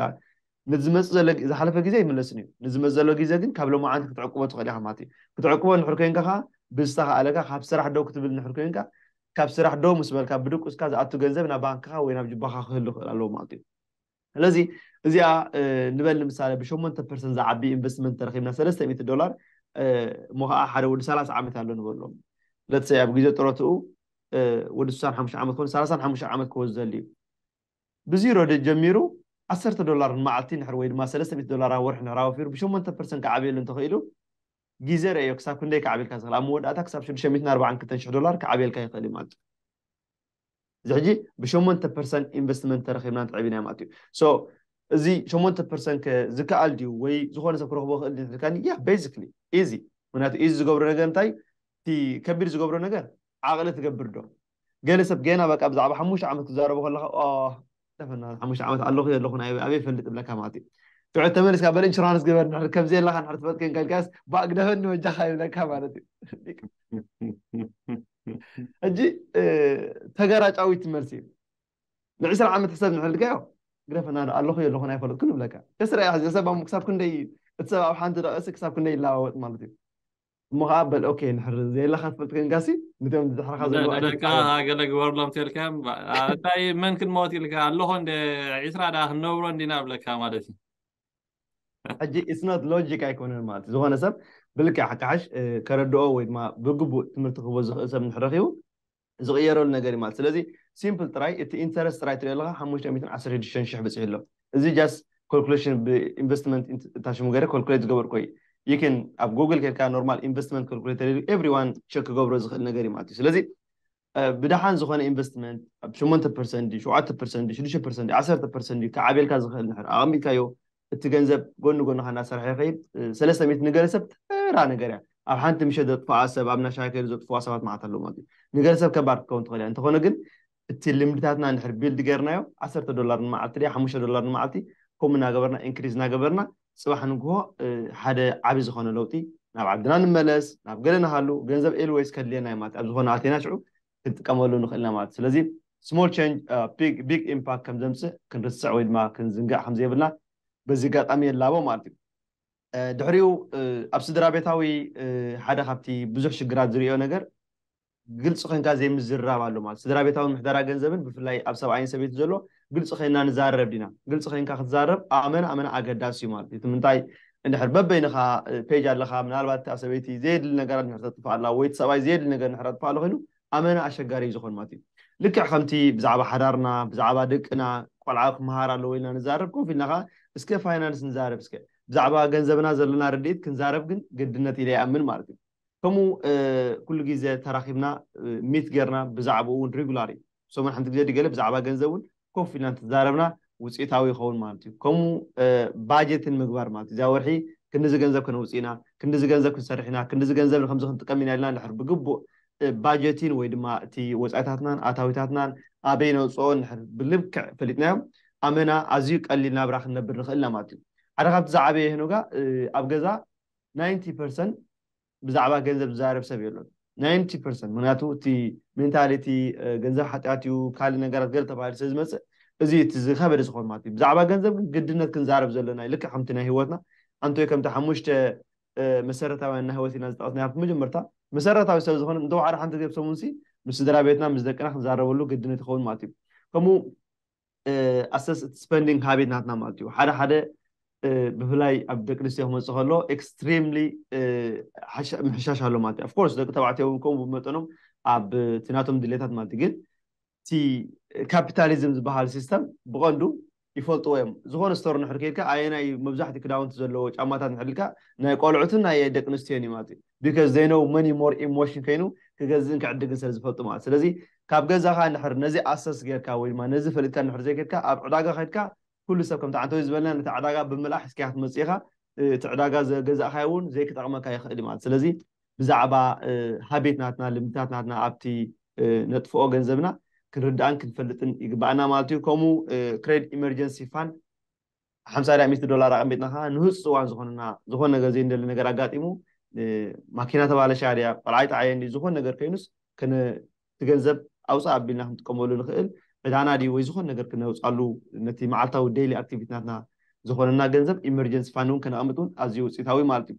ንዝመጽእ ዘሎ ዝሓለፈ ጊዘ ኣይምለስን እዩ ንዝመጽእ ዘሎ ጊዘ ግን ካብ ሎማዓንቲ ክትዕቅቦ ትኽእል ኢኻ ማለት እዩ ክትዕቅቦ እንድሕር ኬንካ ከኣ ብዝተኻእለካ ካብ ስራሕ ደው ክትብል እንድሕር ኬንካ ካብ ስራሕ ደው ምስ በልካ ብድቁስካ ዝኣቱ ገንዘብ ናብ ባንክኻ ወይ ናብ ጁባኻ ክህሉ ክኽእል ኣለዎ ማለት እዩ። ስለዚ እዚኣ ንበል ንምሳሌ ብሸሞንተ ፐርሰንት ዝዓቢ ኢንቨስትመንት ተረኺብና ሰለስተ ሚእቲ ዶላር እሞ ኸኣ ሓደ ወዲ ሰላሳ ዓመት ኣሎ ንበሎ let's say ኣብ ግዜ ጥሮትኡ ወዲ ስሳን ሓሙሽተ ዓመት ኮይኑ ሰላሳን ሓሙሽተ ዓመት ክወ ዝደሊ እዩ ብዚሮ ጀሚሩ ዓሰርተ ዶላር ንመዓልቲ ንሕር ወይ ድማ ሰለስተ ሚእቲ ዶላር ኣብ ወርሒ ንሕር ኣወፊሩ ብሸሞንተ ፐርሰንት ክዓብየሉ እንተኽኢሉ ግዜ ረእዮ ክሳብ ክንደይ ክዓብየልካ ዝኽእል ኣብ መወዳእታ ክሳብ ሽዱሽተ ሚእትን ኣርባዓን ክልተን ሽሕ ዶላር ክዓብየልካ ይኽእል እዩ ማለት እዩ እዚ ሕጂ ብሸሞንተ ፐርሰን ኢንቨስትመንት ተረኺብና እንተዕቢናዮ ማለት እዩ ሶ እዚ ሸሞንተ ፐርሰን ከ ዝከኣል ድዩ ወይ ዝኾነ ሰብ ክረኽቦ ክእል ድዩ ትልካኒ ያ ቤዚክሊ ኢዚ ምክንያቱ ኢዚ ዝገብሮ ነገር እንታይ እቲ ከቢድ ዝገብሮ ነገር ዓቕሊ ትገብር ዶ ገለ ሰብ ገና በቃ ብዛዕባ ሓሙሽተ ዓመት ክዛረቦ ከለካ ተፈና ሓሙሽተ ዓመት ኣለኹ የለኹን ኣይ ኣበይ ፈልጥ እብለካ ማለት እዩ ትዑት ተመልስካ በል ኢንሹራንስ ግበር ንሕር ከምዚ ኣለካ ንሕር ትፈልጥ ኮንካ ኢልካስ ባእ ግደፈኒ ወጃኻ ይብለካ ማለት እዩ ሕጂ ተገራጫዊት መልሲ እዩ ንዕስራ ዓመት ሕሰብ ንሕር ኢልካዮ ግደፈና ዶ ኣለኹ የለኹን ኣይፈለጥኩን ይብለካ ከስረ እያ ሕዚ ሰብ ኣብ ክሳብ ክንደይ እቲ ሰብ ኣብ ሓንቲ ደቕሲ ክሳብ ክንደይ ይለዋወጥ ማለት እዩ እሞ ከኣ በል ኦኬ እንድሕር ዘየለካ ትፈልጥ ኮንካሲ ንቶም ድሕርካ ዘለዉ ኣይትጻወት። ንደቅኻ ገለ ግበርሎም ተልካዮም ባእ እንታይ መን ክንመውት ኢልካ ኣለኹ እንደ ዒስራ ደኣ ክንነብሮ እንዲና እብለካ ማለት እዩ። ሕጂ ኢትስ ኖት ሎጂክ ኣይኮነን ማለት እዩ ዝኾነ ሰብ ብልክዕ ክሓሽ ከረድኦ ወይ ድማ ብግቡእ ትምህርቲ ክህቦ ዝኽእል ሰብ እንድሕር ረኺቡ ዝቕየረሉ ነገር እዩ ማለት ስለዚ ሲምፕል ጥራይ እቲ ኢንተረስት ጥራይ ትሪኦ ኣለኻ ሓሙሽተ ሚእትን ዓሰርተ ሽዱሽተን ሽሕ በፂሑ ኣሎ እዚ ጃስት ኮልኩሌሽን ብኢንቨስትመንት እታ ሽሙ ገይረ ኮልኩሌት ዝገበርኩ እዩ ይክን ኣብ ጉግል ኬድካ ኖርማል ኢንቨስትመንት ኮልኩሌተር ኢሉ ኤቭሪዋን ቸክ ክገብሮ ዝኽእል ነገር እዩ ማለት እዩ ስለዚ ብደሓን ዝኾነ ኢንቨስትመንት ኣብ ሸሞንተ ፐርሰንት ድዩ ሸውዓተ ፐርሰንት ድዩ ሽዱሽተ ፐርሰንት ድዩ ዓሰርተ ፐርሰንት ድዩ ክዓብየልካ ዝኽእል ንድሕር ኣቐሚጥካዮ እቲ ገንዘብ ጎኒ ጎንኻ እናሰርሐ ይኸይድ። ሰለስተ ሚእቲ ንገለሰብ ተራ ነገር እያ። ኣብ ሓንቲ ምሸት ዘጥፍኣ ሰብ፣ ኣብ እንዳ ሻሂ ከይዱ ዘጥፍኣ ሰባት መዓት ኣለዉ ማለት እዩ። ንገለሰብ ከባድ ክትከውን ትኽእል እያ። እንተኾነ ግን እቲ ልምድታትና እንድሕር ቢልድ ገይርናዮ፣ ዓሰርተ ዶላር ንመዓልቲ ድያ ሓሙሽተ ዶላር ንመዓልቲ ከምኡ እናገበርና ኢንክሪዝ እናገበርና ፅባሕ ንግሆ ሓደ ዓብዪ ዝኾነ ለውጢ፣ ናብ ዓድና ንመለስ፣ ናብ ገለ ንሃሉ፣ ገንዘብ ኤልወይስ ከድልየና እዩ ማለት እዩ። ኣብ ዝኾነ ኣቲና ሽዑ ክንጥቀመሉ ንኽእል ኢና ማለት እዩ። ስለዚ small change big impact ከም ዘምጽእ ክንርስዕ ወይ ድማ ክንዝንግዕ ከም ዘይብልና በዚ ኣጋጣሚ የላቦ ማለት እዩ። ድሕሪኡ ኣብ ስድራቤታዊ ሓደ ካብቲ ብዙሕ ሽግራት ዝርእዮ ነገር ግልጺ ኮንካ ዘይምዝርራብ ኣሎ ማለት እዩ። ስድራቤታዊ ምሕደራ ገንዘብን ብፍላይ ኣብ ሰብኣይን ሰበይትን ዘሎ ግልፂ ኮይንና ንዛረብ ዲና? ግልፂ ኮይንካ ክትዛረብ ኣመና ኣመና ኣገዳሲ እዩ ማለት እዩ። እቲ ምንታይ እንድሕር በበይንኻ ፔጅ ኣለካ ምናልባት እታ ሰበይቲ ዘየድሊ ነገራት እንድሕር ተጥፍኣላ ወይ እቲ ሰብኣይ ዘየድሊ ነገር እንድሕር ኣጥፍኣሉ ኮይኑ ኣመና ኣሸጋሪ እዩ ዝኾን ማለት እዩ። ልክዕ ከምቲ ብዛዕባ ሓዳርና ብዛዕባ ደቅና ቆልዓ ክምሃር ኣለዎ ኢልና ንዛረብ ኮፍ ኢልና ከኣ እስከ ፋይናንስ ንዛረብ እስከ ብዛዕባ ገንዘብና ዘለና ርድኢት ክንዛረብ ግን ግድነት ኢለ ይኣምን ማለት እዩ። ከምኡ ኩሉ ግዜ ተራኺብና ሚት ጌርና ብዛዕብኡ ውን ሪጉላሪ ሰሙን ሓንቲ ግዜ ድገለ ብዛዕባ ገንዘብ ውን ኮፍ ኢልና እንተተዛረብና ውጽኢታዊ ይኸውን ማለት እዩ ከምኡ ባጀትን ምግባር ማለት እዚኣ ወርሒ ክንድዚ ገንዘብ ከነውጽእ ኢና ክንድዚ ገንዘብ ክንሰርሕ ኢና ክንድዚ ገንዘብ ንከምዚ ክንጥቀም ኢና ኢልና ንድሕር ብግቡእ ባጀቲን ወይ ድማ እቲ ወፃኢታትናን ኣታዊታትናን ኣበይ ነውፅኦ ንድሕር ብልክዕ ፈሊጥናዮ ኣመና ኣዝዩ ቀሊል ናብራ ክንነብር ንኽእል ኢና ማለት እዩ ሓደ ካብቲ ዝዓበየ ሄኖጋ ኣብ ገዛ ናይንቲ ፐርሰንት ብዛዕባ ገንዘብ ዝዛረብ ሰብ የሎን ናይንቲ ፐርሰንት ምክንያቱ እቲ ሜንታሊቲ ገንዘብ ሓጢኣት እዩ ካልእ ነገራት ገለ ተባሂሉ ስለ ዝመፅእ እዚ እቲ ዝኸበደ ዝኾን ማለት እዩ ብዛዕባ ገንዘብ ግን ግድነት ክንዛረብ ዘሎና እዩ ልክዕ ከምቲ ናይ ህይወትና ኣንቶይ ከምቲ ሓሙሽተ መሰረታውያን ናይ ህይወት ኢና ዝጠቐስና ኣብቲ መጀመርታ መሰረታዊ ስለ ዝኾነ እንተወሓደ ሓንቲ ግዜ ብሰሙን ሲ ምስ ስድራ ቤትና ምስ ደቅና ክንዛረበሉ ግድነት ይኸውን ማለት እዩ ከምኡ ኣሰስ እቲ ስፐንዲንግ ሃቢት ናትና ማለት እዩ ሓደ ሓደ ብፍላይ ኣብ ደቂ ኣንስትዮ ክመፅእ ከሎ ኤክስትሪምሊ ምሕሻሽ ኣሎ ማለት እዩ ኣፍኮርስ ደቂ ተባዕትዮ እውን ከምኡ ብመጠኖም ኣብ እቲ ናቶም ድሌታት ማለት እዩ ግን እቲ ካፒታሊዝም ዝበሃል ሲስተም ብቐንዱ ይፈልጥዎ እዮም ዝኾነ ስቶር ንሕር ከይድካ ኣየናይ መብዛሕትኡ ክዳውንቲ ዘለዎ ጫማታት ንሕር ኢልካ ናይ ቆልዑትን ናይ ደቂ ኣንስትዮን እዩ ማለት እዩ ቢካዝ ዘይ ኖው መኒ ሞር ኢሞሽን ከይኑ ክገዝእን ክዕድግን ስለ ዝፈልጡ ማለት ስለዚ ካብ ገዛኻ እንድሕር ነዚ ኣሰስ ጌርካ ወይ ድማ ነዚ ፈሊጥካ እንድሕር ዘይከድካ ኣብ ዕዳጋ ከድካ ኩሉ ሰብ ከምቲ ዓንተወይ ዝበለና ነታ ዕዳጋ ብምልኣሕ ሒዝካያ ክትመጽእ ኢኻ እቲ ዕዳጋ ዘገዛእካዮ ውን ዘይክጠቕመካ ይኽእል እዩ ማለት ስለዚ ብዛዕባ ሃቤት ናትና ልምድታት ናትና ኣብቲ ነጥፍኦ ገንዘብና ክንርዳእን ክንፈልጥን ይግባኣና ማለት እዩ ከምኡ ክሬድ ኢመርጀንሲ ፋንድ ሓምሳ ድያ ሚእቲ ዶላር ኣቐሚጥና ከዓ ንህፁፅ እዋን ዝኾነና ዝኾነ ነገር ዘይንደሊ ነገር ኣጋጢሙ ማኪና ተባለሻ ድያ ቆልዓይ ጠዓየ እንዲ ዝኾነ ነገር ኮይኑስ እቲ ገንዘብ ኣውፃእ ኣቢልና ክንጥቀመሉ ንኽእል ዕዳና ድዩ ወይ ዝኾነ ነገር ክነውፃሉ ነቲ መዓልታዊ ደይሊ ኣክቲቪቲናትና ዝኾነና ገንዘብ ኢመርጀንሲ ፋንድ እውን ከነቐምጥ እውን ኣዝዩ ውፅኢታዊ ማለት እዩ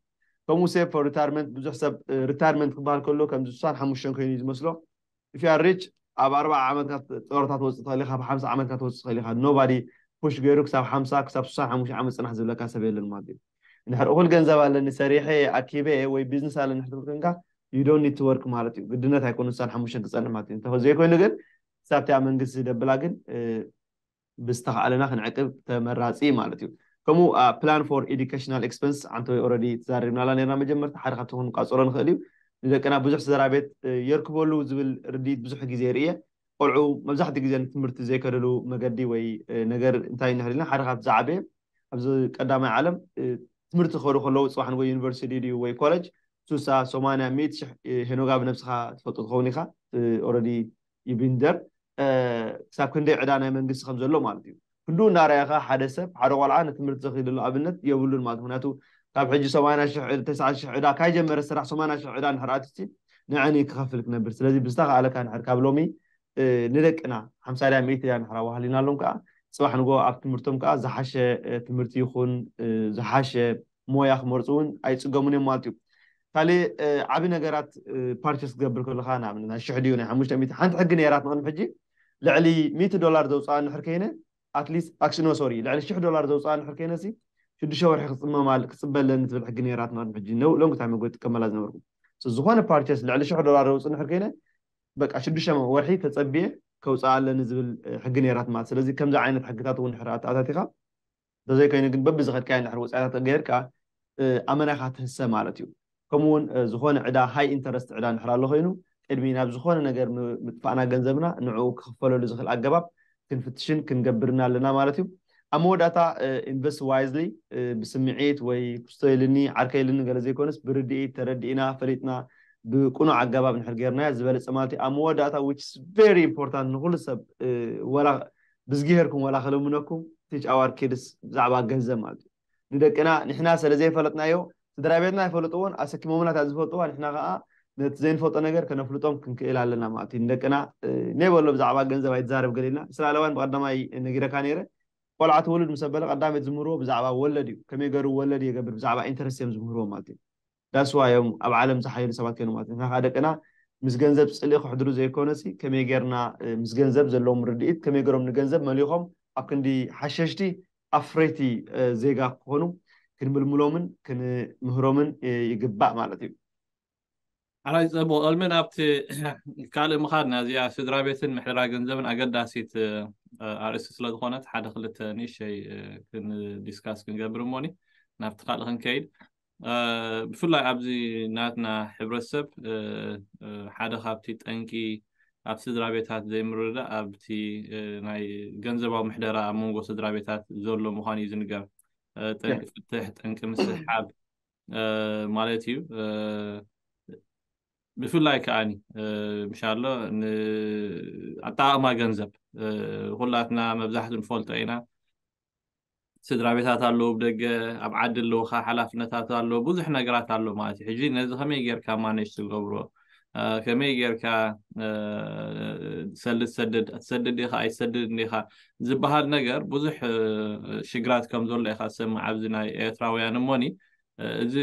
ከምኡ ሴቭ ፎር ሪታርመንት ብዙሕ ሰብ ሪታርመንት ክበሃል ከሎ ከምዚ ስሳን ሓሙሽተን ኮይኑ እዩ ዝመስሎ ኢፍያ ሪች ኣብ ኣርብዓ ዓመት ኢካ ጦሮታ ትወጽእ ትክእል ኢካ ኣብ ሓምሳ ዓመት ኢካ ትወጽእ ትክእል ኢካ ኖባዲ ፑሽ ገሩ ክሳብ ሓምሳ ክሳብ ሱሳን ሓሙሽተ ዓመት ጽናሕ ዝብለካ ሰብ የለን ማለት እዩ እንድሕር እኩል ገንዘብ ኣለኒ ሰሪሐ እየ ኣኪበ እየ ወይ ቢዝነስ ኣለኒ እንድሕር ትብል ኮንካ you don't need to work ማለት እዩ ግድነት ኣይኮነን ሱሳን ሓሙሽተን ክጸንሕ ማለት እዩ እንተ ዘይኮይኑ ግን ክሳብ እቲኣ መንግስቲ ደብላ ግን ብዝተኻኣለና ክንዕቅብ ተመራጺ እዩ ማለት እዩ። ከምኡ ፕላን ፎር ኤዱኬሽናል ኤክስፐንስ ዓንተወይ ኦረዲ ተዛሪብናላ ኔርና መጀመርታ ሓደ ካብቲ ክንቛጽሮ ንኽእል እዩ። ንደቅና ብዙሕ ስድራቤት የርክበሉ ዝብል ርድኢት ብዙሕ ግዜ ርእየ። ቆልዑ መብዛሕትኡ ግዜ ንትምህርቲ ዘይከድሉ መገዲ ወይ ነገር እንታይ እዩ እንድሕር ኢልና ሓደ ካብቲ ዝዓበየ ኣብዚ ቀዳማይ ዓለም ትምህርቲ ክኸዱ ከለዉ ጽባሕ ንግሆ ዩኒቨርሲቲ ድዩ ድዩ ወይ ኮለጅ ሱሳ ሶማንያ ሚእቲ ሽሕ ሄኖጋ ብነብስኻ ትፈልጦ ትኸውን ኢኻ ኦረዲ ይቢንደር ክሳብ ክንደይ ዕዳ ናይ መንግስቲ ከም ዘሎ ማለት እዩ። ክንድኡ እናረኣኻ ሓደ ሰብ ሓደ ቆልዓ ንትምህርቲ ዘኺድሉ ኣብነት የብሉን ማለት እዩ። ምኽንያቱ ካብ ሕጂ ሰማንያ ሽሕ ተስዓተ ሽሕ ዕዳ ካይጀመረ ስራሕ ሰማንያ ሽሕ ዕዳ እንድሕር ኣትዩሲ ንዕን እዩ ክኸፍል ክነብር። ስለዚ ብዝተኻእለካ እንድሕር ካብ ሎሚ ንደቅና ሓምሳ ድያ ሚእቲ ድያ እንድሕር ኣዋህሊናሎም ከኣ ጽባሕ ንግሆ ኣብ ትምህርቶም ከኣ ዝሓሸ ትምህርቲ ይኹን ዝሓሸ ሞያ ክመርጹ እውን ኣይጽገሙን እዮም ማለት እዩ ካልእ ዓቢ ነገራት ፓርቸስ ክገብር ከለካ ንኣብነት ናይ ሽሕ ድዩ ናይ ሓሙሽተ ሚእቲ ሓንቲ ሕጊ ነይራት ንቅድሚ ሕጂ ልዕሊ ሚእቲ ዶላር ዘውፅኣ ንድሕር ከይነ ኣትሊስት ኣክሽኖ ሶሪ ልዕሊ ሽሕ ዶላር ዘውፅኣ ንድሕር ከይነሲ ሽዱሽተ ወርሒ ክፅመማ ክፅበ ኣለኒ ትብል ሕጊ ነይራት ንቅድሚ ሕጂ ሎንግ ታይም ኣጎ ትጥቀመላ ዝነበርኩ ዝኾነ ፓርቸስ ልዕሊ ሽሕ ዶላር ዘውፅእ ንድሕር ከይነ በቃ ሽዱሽተ ወርሒ ተፀብየ ከውፅኣ ኣለኒ ዝብል ሕጊ ነይራት ማለት ስለዚ ከምዚ ዓይነት ሕግታት እውን ድሕር ኣታቲኻ እንተዘይኮይኑ ግን በብዝኸድካዮ እንድሕር ወጻኢታት ተገይርካ ኣመና ኢኻ ትህሰ ማለት እዩ። ከምኡ እውን ዝኾነ ዕዳ ሃይ ኢንተረስት ዕዳ እንድሕር ኣሎ ኮይኑ ቅድሚ ናብ ዝኾነ ነገር ምጥፋእና ገንዘብና ንዕኡ ክኽፈለሉ ዝኽእል ኣገባብ ክንፍትሽን ክንገብርን ኣለና ማለት እዩ። ኣብ መወዳእታ ኢንቨስት ዋይዝሊ ብስምዒት ወይ ክስቶ ኢሉኒ ዓርከይ ኢሉኒ ገለ ዘይኮነስ ብርድኢት ተረዲእና ፈሊጥና ብቅኑዕ ኣገባብ እንድሕር ገይርናዮ ዝበለጸ ማለት እዩ። ኣብ መወዳእታ which is very important ንኹሉ ሰብ ወላ ብዝጊሄርኩም ዋላ ክልምነኩም ቲጫዋር ኪድስ ብዛዕባ ገንዘብ ማለት እዩ ንደቅና ንሕና ሰለ ዘይፈለጥናዮ ስድራቤትና ኣይፈለጥዎን ኣሰኪሞምና እታ ዝፈልጥዋ ንሕና ከኣ ነቲ ዘይንፈልጦ ነገር ከነፍልጦም ክንክእል ኣለና ማለት እዩ ንደቅና ነይ በሎ ብዛዕባ ገንዘብ ኣይትዛረብ ገለ ኢልና እስራኤላውያን ብቀዳማይ ነጊረካ ነይረ ቆልዓ ትወልድ ምስ ኣበለ ቀዳመይ ዝምህርዎ ብዛዕባ ወለድ እዩ ከመይ ገሩ ወለድ የገብር ብዛዕባ ኢንተረስት እዮም ዝምህርዎ ማለት እዩ That's why እዮም ኣብ ዓለም ዝሓይሉ ሰባት ኮይኖም ማለት እዩ። ንሕና ከኣ ደቅና ምስ ገንዘብ ጽልኢ ከሕድሩ ዘይኮነሲ ከመይ ጌርና ምስ ገንዘብ ዘለዎም ርድኢት ከመይ ጌሮም ንገንዘብ መሊኾም ኣብ ክንዲ ሓሸሽቲ ኣፍረይቲ ዜጋ ክኾኑ ክንምልምሎምን ክንምህሮምን ይግባእ ማለት እዩ። ሓራይ ጸቡ ቅድሚ ናብቲ ካልእ ምኻድና እዚኣ ስድራቤትን ምሕደራ ገንዘብን ኣገዳሲት ኣርእስቲ ስለ ዝኾነት ሓደ ክልተ ንእሸይ ዲስካስ ክንገብር እሞኒ ናብቲ ካልእ ክንከይድ ብፍላይ ኣብዚ ናትና ሕብረተሰብ ሓደ ካብቲ ጠንቂ ኣብ ስድራ ቤታት ዘይምርድዳእ ኣብቲ ናይ ገንዘባዊ ምሕደራ ኣብ መንጎ ስድራ ቤታት ዘሎ ምዃኑ እዩ ዝንገር ጠንቂ ፍትሕ ጠንቂ ምስሓብ ማለት እዩ ብፍላይ ከዓኒ ምሻሎ ንኣጠቃቅማ ገንዘብ ኩላትና መብዛሕቱ ንፈልጦ ኢና ስድራ ቤታት ኣለዉ ብ ደገ ኣብ ዓዲ ኣለዉካ ሓላፍነታት ኣሎ ብዙሕ ነገራት ኣሎ ማለት እዩ ሕጂ ነዚ ከመይ ጌርካ ማነጅ ትገብሮ ከመይ ጌርካ ሰሊ ትሰድድ ትሰድድ ኢኻ ኣይትሰድድ እንዲኻ ዝበሃል ነገር ብዙሕ ሽግራት ከም ዘሎ ኢኻ ዝሰምዕ ኣብዚ ናይ ኤርትራውያን እሞኒ እዚ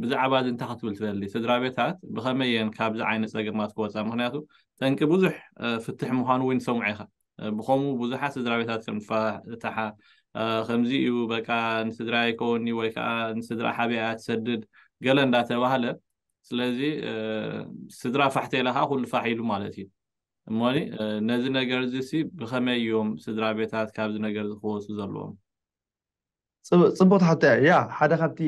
ብዛዕባ እዚ እንታይ ክትብል ትደሊ ስድራ ቤታት ብኸመይ እየን ካብዚ ዓይነት ፀገማት ክወፃ ምክንያቱ ጠንቂ ብዙሕ ፍትሕ ምዃኑ እውን ይሰምዑ ኢኻ ብከምኡ ብዙሓት ስድራቤታት ከም ዝፋታሓ ከምዚ እዩ በቃ ንስድራ ኣይከውኒ ወይ ከዓ ንስድራ ሓቢኣ እያ ትሰድድ ገለ እንዳተባህለ ስለዚ ስድራ ፋሕተ ኢላ ከዓ ኩሉ ፋሕ ኢሉ ማለት እዩ እሞኒ ነዚ ነገር እዚ ሲ ብከመይ እዮም ስድራ ቤታት ካብዚ ነገር እዚ ክወፁ ዘለዎም ጽብቕቲ ሕቶ እያ። ያህ ሓደ ካብቲ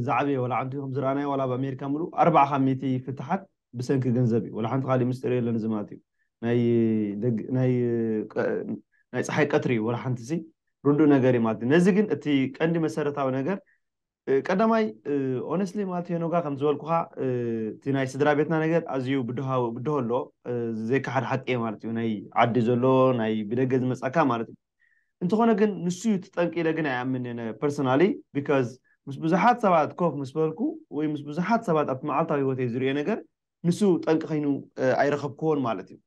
ዝዓበየ ዋላ ዓንቱ ከም ዝረኣናዮ ዋላ ኣብ ኣሜሪካ ምሉእ ኣርብዓ ካብ ሚእቲ ፍትሓት ብሰንኪ ገንዘብ እዩ። ዋላ ሓንቲ ካሊእ ምስጢር የለን እዚ ማለት እዩ። ናይ ደግ ናይ ናይ ጸሓይ ቀትሪ እዩ ዋላ ሓንቲሲ ርዱእ ነገር እዩ ማለት እዩ። ነዚ ግን እቲ ቀንዲ መሰረታዊ ነገር ቀዳማይ ኦነስትሊ ማለት ሄኖጋ ከም ዝበልኩኻ እቲ ናይ ስድራ ቤትና ነገር ኣዝዩ ብድሆ ብድሆ ኣሎ ዘይከሓድ ሓቂ እየ ማለት እዩ ናይ ዓዲ ዘሎ ናይ ብደገ ዝመጻካ ማለት እዩ እንተኾነ ግን ንሱ እዩ ትጠንቂ ኢለ ግን ኣይኣምን እየ ፐርሶናሊ ቢካዝ ምስ ብዙሓት ሰባት ኮፍ ምስ በልኩ ወይ ምስ ብዙሓት ሰባት ኣብቲ መዓልታዊ ህይወተይ ዝርእዮ ነገር ንሱ ጠንቂ ከይኑ ኣይረኸብክዎን ማለት እዩ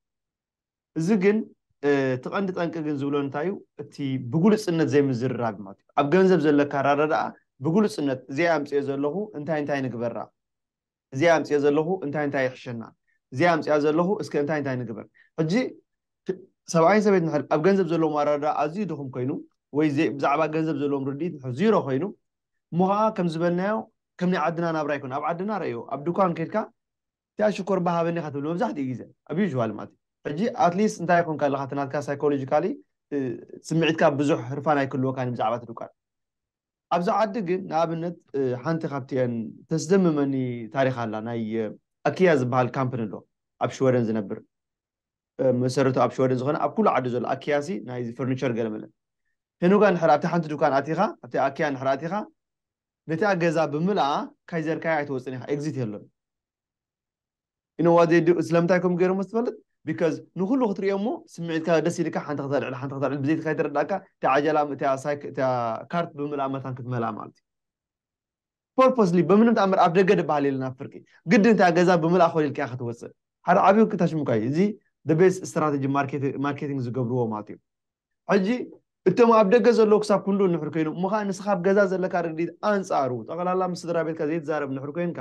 እዚ ግን እቲ ቀንዲ ጠንቂ ግን ዝብሎ እንታይ እዩ እቲ ብግሉጽነት ዘይምዝርራግ ማለት እዩ ኣብ ገንዘብ ዘለካ ኣራዳድኣ ብግሉጽነት እዚኣ ኣምጽኦ ዘለኹ እንታይ እንታይ ንግበራ እዚኣ ኣምጽኦ ዘለኹ እንታይ እንታይ ይሕሸና እዚኣ ኣምጽኣ ዘለኹ እስከ እንታይ እንታይ ንግበር ሕጂ ሰብኣይን ሰበይት ንሕል ኣብ ገንዘብ ዘለዎም ኣረዳድኣ ኣዝዩ ድኹም ኮይኑ ወይ ብዛዕባ ገንዘብ ዘለዎም ርድኢት ንሕል ዚሮ ኮይኑ እሞ ከዓ ከም ዝበልናዮ ከም ናይ ዓድና ናብራ ይኮን ኣብ ዓድና ረእዮ ኣብ ድኳን ከድካ እቲኣ ሽኮር ባህ ሃበኒ ኢካ ትብል መብዛሕቲኡ ግዜ ኣብ usual ማለት እዩ ሕጂ at least እንታይ ኮንካ ኣለካ እቲ ናትካ psychologically ስምዒትካ ብዙሕ ህርፋን ኣይክህልወካን እዩ ብዛዕባ እቲ ዱካን ኣብዚ ዓዲ ግን ንኣብነት ሓንቲ ካብቲኤን ተስደምመኒ ታሪክ ኣላ ናይ ኣኪያ ዝበሃል ካምፕኒ ኣሎ ኣብ ሽወደን ዝነብር መሰረቱ ኣብ ሽወደን ዝኮነ ኣብ ኩሉ ዓዲ ዘሎ ኣኪያ ሲ ናይ ፈርኒቸር ገለመለ ሄኖጋ ንድሕር ኣብቲ ሓንቲ ዱካን ኣቲካ ኣብቲ ኣኪያ ንድሕር ኣቲካ ነታ ገዛ ብምልኣ ካይዘርካያ ኣይትወጽን ኢኻ ኤግዚት የሎን you know what they do ስለምንታይ ከምኡ ገይሮሞ ትፈልጥ because ንኩሉ ክትሪኦ እሞ ስምዒትካ ደስ ኢልካ ሓንቲ ከተልዕል ሓንቲ ከተልዕል ብዘይቲ ከይተረዳእካ እቲ ዓጀላ እቲ ካርት ብምልኣ መታን ክትመልኣ ማለት እዩ ፐርፖስሊ በምንም ተኣምር ኣብ ደገ ድበሃል የለን ኣብ ፍርቂ ግድን እታ ገዛ ብምልኣ ኮል ኢልካ ክትወፅእ ሓደ ዓብዪ ክታሽምካ እዩ እዚ ደቤስ ስትራቴጂ ማርኬቲንግ ዝገብርዎ ማለት እዩ ሕጂ እቶም ኣብ ደገ ዘለዉ ክሳብ ክንድኡ ንሑር ከይኖም እሞ ከኣ ንስኻ ኣብ ገዛ ዘለካ ርድኢት ኣንጻሩ ጠቕላላ ምስ ስድራ ቤትካ ዘይትዛረብ ንሑር ኮይንካ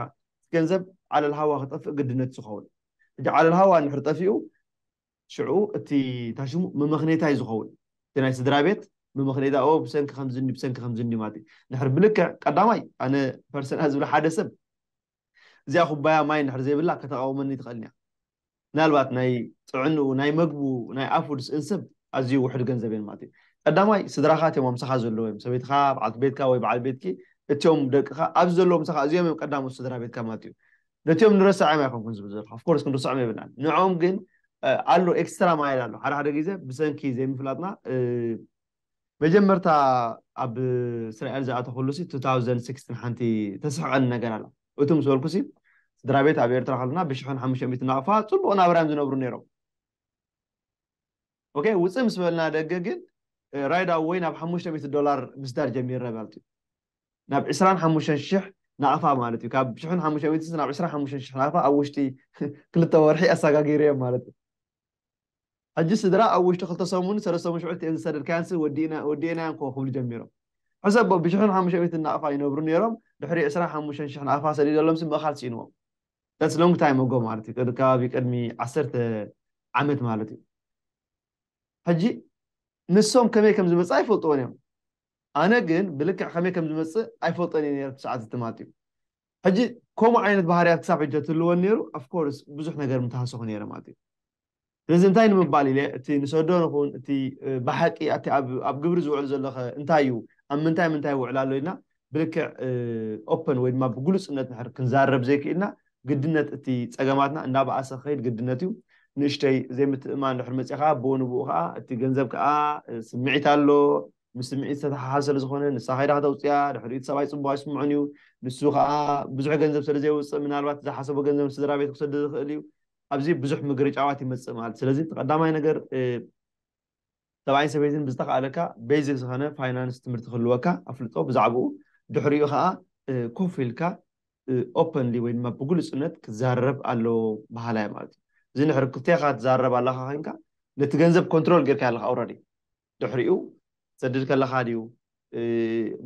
ገንዘብ ዓለል ሃዋ ክጠፍእ ግድነት ዝኸውን ሕጂ ዓለል ሃዋ ንሑር ጠፊኡ ሽዑ እቲ ታሽሙ መመኽኔታይ ዝኸውን እቲ ናይ ስድራ ቤት መመኽኔታ ኦ ብሰንኪ ከምዝኒ ብሰንኪ ከምዝኒ ማለት ንሕር ብልክዕ ቀዳማይ ኣነ ፐርሰና ዝብለ ሓደ ሰብ እዚኣ ኩባያ ማይ እንድሕር ዘይብላ ከተቓውመኒ ትኽእል እያ። ምናልባት ናይ ጥዕንኡ፣ ናይ መግቡ፣ ናይ ኣፉ ድስ እንስብ ኣዝዩ ውሑድ ገንዘብ እየን ማለት እዩ። ቀዳማይ ስድራኻት እዮም ኣብ ምሳኻ ዘለዉ እዮም። ሰበይትኻ፣ በዓልቲ ቤትካ ወይ በዓል ቤትኪ፣ እትዮም ደቅኻ፣ ኣብዚ ዘለዉ ምሳኻ እዚኦም እዮም ቀዳሞት ስድራ ቤትካ ማለት እዩ። ነትዮም ንረስዐዮም ኣይኮንኩን ዝብል ዘለኹ። of course ክንርስዖም የብልናን። ንዕኦም ግን ኣሎ ኤክስትራ ማይል ኣሎ። ሓደ ሓደ ግዜ ብሰንኪ ዘይምፍላጥና መጀመርታ ኣብ እስራኤል ዝኣተኹሉ ሲ 2016 ሓንቲ ተስሕቐኒ ነገር ኣላ እቱ ምስ በልኩ ሲ ስድራ ቤት ኣብ ኤርትራ ከለና ብሽሕን ሓሙሽተ ሚእቲ ናቕፋ ጽቡቕ ናብራዮም ዝነብሩ ነይሮም ኦኬ ውፅእ ምስ በልና ደገ ግን ራይድ ኣወይ ናብ ሓሙሽተ ሚእቲ ዶላር ምስዳር ጀሚረ ማለት እዩ ናብ ዕስራን ሓሙሽተን ሽሕ ናቕፋ ማለት እዩ ካብ ሽሕን ሓሙሽተ ሚእቲ ናብ ዕስራን ሓሙሽተን ሽሕ ናቕፋ ኣብ ውሽጢ ክልተ ወርሒ ኣሰጋጊረዮም ማለት እዩ ሕጂ ስድራ ኣብ ውሽጢ ክልተ ሰሙንን ሰለስተ ምሽዑልቲ እየን ዝሰደድካየንሲ ወዲእናዮንኮ ክብሉ ጀሚሮም። ሕሰቦ ብሽሕን ሓሙሽተ ሚእትን ናቕፋ ይነብሩ ኔሮም ድሕሪ ዕስራን ሓሙሽተን ሽሕ ናቕፋ ሰዲደሎምሲ ምእኻል ስኢንዎም። That's long time ago ማለት እዩ ከባቢ ቅድሚ ዓሰርተ ዓመት ማለት እዩ። ሕጂ ንሶም ከመይ ከም ዝመጽኣ ይፈልጥዎን እዮም። ኣነ ግን ብልክዕ ከመይ ከም ዝመጽእ ኣይፈልጦን እየ ኔረ እቲ ሰዓት ዝትማትዩ። ሕጂ ከምኡ ዓይነት ባህርያት ክሳብ ሕጂ ተትህልወን ነይሩ of course ብዙሕ ነገር ምተሃሰኹ ነይረ ማለት እዩ። ስለዚ እንታይ ንምባል ኢለ እቲ ንሰዶ ንኹን እቲ ብሓቂ እቲ ኣብ ግብሪ ዝውዕል ዘሎኸ እንታይ እዩ ኣብ ምንታይ ምንታይ ይውዕል ኣሎ ኢልና ብልክዕ open ወይ ድማ ብግሉጽነት ንሕር ክንዛረብ ዘይክኢልና ግድነት እቲ ጸገማትና እንዳበኣሰ ክኸይድ ግድነት እዩ። ንእሽተይ ዘይምትእምማን ድሕሪ መጽኡ ከኣ ብኡ ንብኡ ከኣ እቲ ገንዘብ ከኣ ስምዒት ኣሎ ምስ ስምዒት ዝተተሓሓዘ ስለ ዝኾነ ንሳ ከይዳ ከተውጽኣ፣ ድሕሪኡ እቲ ሰብኣይ ጽቡቕ ኣይስምዖን እዩ። ንሱ ከኣ ብዙሕ ገንዘብ ስለ ዘየውጽእ ምናልባት ዝሓሰቦ ገንዘብ ንስድራ ቤቱ ክሰድድ ይኽእል እዩ። ኣብዚ ብዙሕ ምግርጫዋት ይመጽእ ማለት እዩ። ስለዚ እቲ ቀዳማይ ነገር ሰብኣይን ሰበይትን ብዝተኻእለካ ቤዚክ ዝኾነ ፋይናንስ ትምህርቲ ክህልወካ ኣፍልጦ ብዛዕብኡ ድሕሪኡ ከኣ ኮፍ ኢልካ ኦፐንሊ ወይ ድማ ብግሉጽነት ክዛረብ ኣለዎ በሃላይ እየ ማለት እዩ። እዚ እንድሕሪ ክልቴኻ ትዛረብ ኣለኻ ኮይንካ ነቲ ገንዘብ ኮንትሮል ጌርካዮ ኣለኻ ኦረዲ። ድሕሪኡ ክትሰድድ ከለኻ ድዩ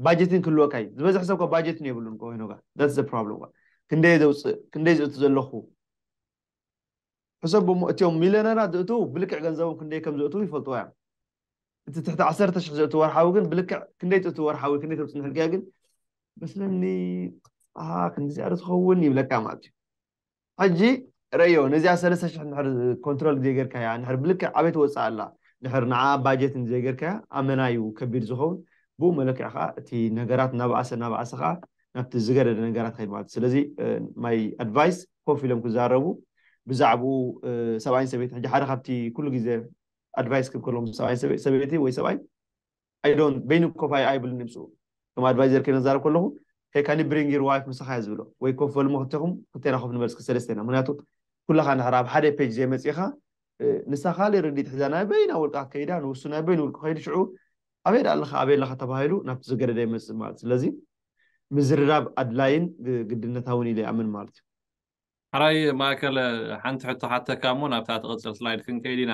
ባጀት ግን ክህልወካ እዩ ዝበዝሕ ሰብ እኮ ባጀት የብሉን እኮ ሄኖጋ that's the problem እኮ ክንደይ ዘውፅእ ክንደይ ዝእቱ ዘለኹ ሕሰቡ እሞ እትዮም ሚልዮነራት ዝእትዉ ብልክዕ ገንዘቦም ክንደይ ከም ዘእትዉ ይፈልጥዎ እዮም እቲ ትሕቲ ዓሰርተ ሽሕ ዘእትዉ ወርሓዊ ግን ብልክዕ ክንደይ ትእትዉ ወርሓዊ ክንደይ ከም ፅንሕልክያ ግን መስለኒ ክንዲዚኣ ዶ ትኸውን ይብለካ ማለት እዩ ሕጂ ረእዮ ነዚኣ ሰለስተ ሽሕ እንድሕር ኮንትሮል ዘይገርካያ እንድሕር ብልክዕ ኣበይ ትወጽእ ኣላ እንድሕር ንዓኣ ባጀት እንተዘይገርካያ ኣመና እዩ ከቢድ ዝኸውን ብኡ መለክዒ ከኣ እቲ ነገራት እናበኣሰ እናበኣሰ ከኣ ናብቲ ዝገደደ ነገራት ይኸይድ ማለት እዩ ስለዚ ማይ ኣድቫይስ ኮፍ ኢሎም ክዛረቡ ብዛዕብኡ ሰብኣይን ሰበይትን ሕጂ ሓደ ካብቲ ኩሉ ግዜ ኣድቫይስ ክህብ ከለዎም ሰብኣይን ሰበይቲ ወይ ሰብኣይ ኣይ ዶንት በይኑ ኮፍ ኣይ ኣይብልን ድምጹ ከም ኣድቫይዘር ከይነ ዛረብ ከለኹ ሄይ ካን ዩ ብሪንግ ዩር ዋይፍ ምሳኻ እየ ዝብሎ ወይ ኮፍ በልሞ ክልቴኹም ክልቴና ኮፍ ንበል እስኪ ሰለስቴና ምክንያቱ ኩላኻ እንድሕር ኣብ ሓደ ፔጅ ዘይመጺእኻ ንሳ ካልእ ርዲት ሒዛ ናይ በይና ውልቃ ከይዳ ንውሱ ናይ በይኑ ውልቁ ከይዱ ሽዑ ኣበይ ደኣ ኣለኻ ኣበይ ኣለኻ ተባሂሉ ናብቲ ዝገደደ ይመጽእ ማለት ስለዚ ምዝርራብ ኣድላይን ግድነታውን ኢለ ይኣምን ማለት እዩ ሕራይ ማእከለ ሓንቲ ሕቶ ሓተካ እሞ ናብታ ትቕጽል ስላይድ ክንከይድ ኢና።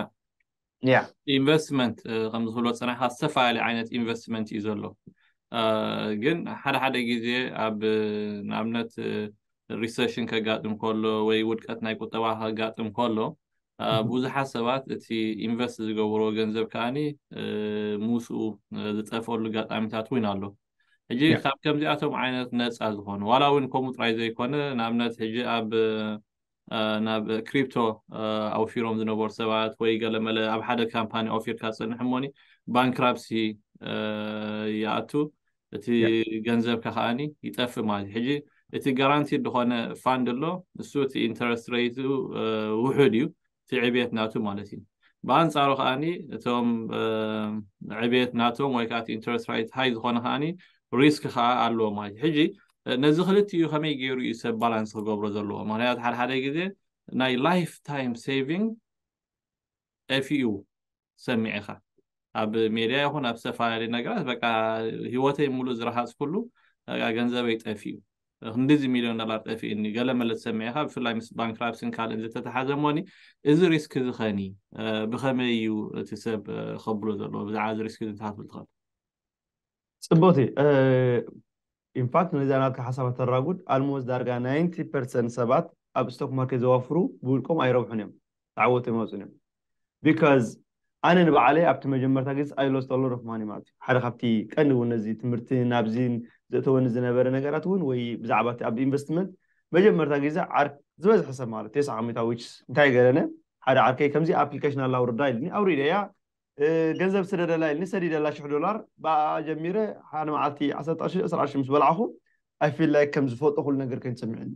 ያ ኢንቨስትመንት ከም ዝብሎ ጽናሕካ ዝተፈላለየ ዓይነት ኢንቨስትመንት እዩ ዘሎ ግን ሓደ ሓደ ግዜ ኣብ ንኣብነት ሪሰሽን ከጋጥም ከሎ ወይ ውድቀት ናይ ቁጠባ ከጋጥም ከሎ ብዙሓት ሰባት እቲ ኢንቨስት ዝገብሮ ገንዘብ ከዓኒ ምስኡ ዝጠፍኣሉ ኣጋጣሚታት እውን ኣሎ ሕጂ ያ ካብ ከምዚኣቶም ዓይነት ነጻ ዝኾኑ ዋላ እውን ከምኡ ጥራይ ዘይኮነ ንኣብነት ሕጂ ኣብ አ፣ ናብ ክሪፕቶ አ፣ ኣውፊሮም ዝነበሩ ሰባት ወይ ገለመለ ኣብ ሓደ ካምፓኒ ኣውፊርካ ትጸንሕ እሞኒ ባንክራፕሲ አ፣ ይኣቱ እቲ ያ ገንዘብካ ከኣኒ ይጠፍእ ማለት እዩ ሕጂ እቲ ጋራንቲድ ዝኾነ ፋንድ ኣሎ ንሱ እቲ ኢንተረስት ረይቱ አ፣ ውሑድ እዩ እቲ ዕብየት ናቱ ማለት እዩ። ብኣንጻሩ ከኣ እቶም ዕብየት ናቶም ወይ ከኣ እቲ ኢንተረስት ራይት ሃይ ዝኾነ ከኣ ሪስክ ከኣ ኣለዎ ማለት እዩ። ሕጂ ነዚ ክልቲኡ ከመይ ገይሩ እዩ ሰብ ባላንስ ክገብሮ ዘለዎ? ምክንያቱ ሓድሓደ ግዜ ናይ ላይፍ ታይም ሴቪንግ ጠፊኡ ትሰምዕ ኢካ ኣብ ሜድያ ይኩን ኣብ ዝተፈላለዩ ነገራት በቃ ሂወተይ ሙሉእ ዝረሃፅኩሉ በቃ ገንዘበይ ጠፊኡ ክንድዚ ሚልዮን ዶላር ጠፊኡኒ ገለ መለ ትሰምዕ ኢካ ብፍላይ ምስ ባንክራፕስን ካልእን ዝተተሓዘ እሞኒ እዚ ሪስክ እዚ ከኒ ብከመይ እዩ እቲ ሰብ ከብሎ ዘለዎ ብዛዕባ እዚ ሪስክ እዚ እንታይ ክትብል ትኽእል ፅብቕቲ ኢንፋክት ነዚኣ ናትካ ሓሳብ ኣተራጉድ ኣልሞስት ዳርጋ ናይንቲ ፐርሰንት ሰባት ኣብ ስቶክ ማርኬት ዘዋፍሩ ብውልቆም ኣይረብሑን እዮም ተዓወቲ ኣይመጹን እዮም ቢካዝ ኣነ ንባዓለይ ኣብቲ መጀመርታ ግዜ ኣይ ሎስት ኣሎት ኦፍ ማኒ ማለት እዩ ሓደ ካብቲ ቀንዲ እውን ነዚ ትምህርቲ ናብዚ ዘእተወኒ ዝነበረ ነገራት እውን ወይ ብዛዕባ እቲ ኣብ ኢንቨስትመንት መጀመርታ ግዜ ዓር ዝበዝሐ ሰብ ማለት እዩ ተስዓ ሚእታዊት እንታይ ገረነ ሓደ ዓርከይ ከምዚ ኣፕሊከሽን ኣላ ኣውርዳ ኢልኒ ኣውሪደያ ገንዘብ ስለ ደላይልኒ ሰዲደላ ሽሕ ዶላር ብኣኣ ጀሚረ ሓደ መዓልቲ ዓሰርተ ቅርሺ ዕስራ ቅርሺ ምስ በላዕኹ ኣይ ፊል ላይክ ከም ዝፈልጦ ኩሉ ነገር ኮይኑ ተሰሚዑኒ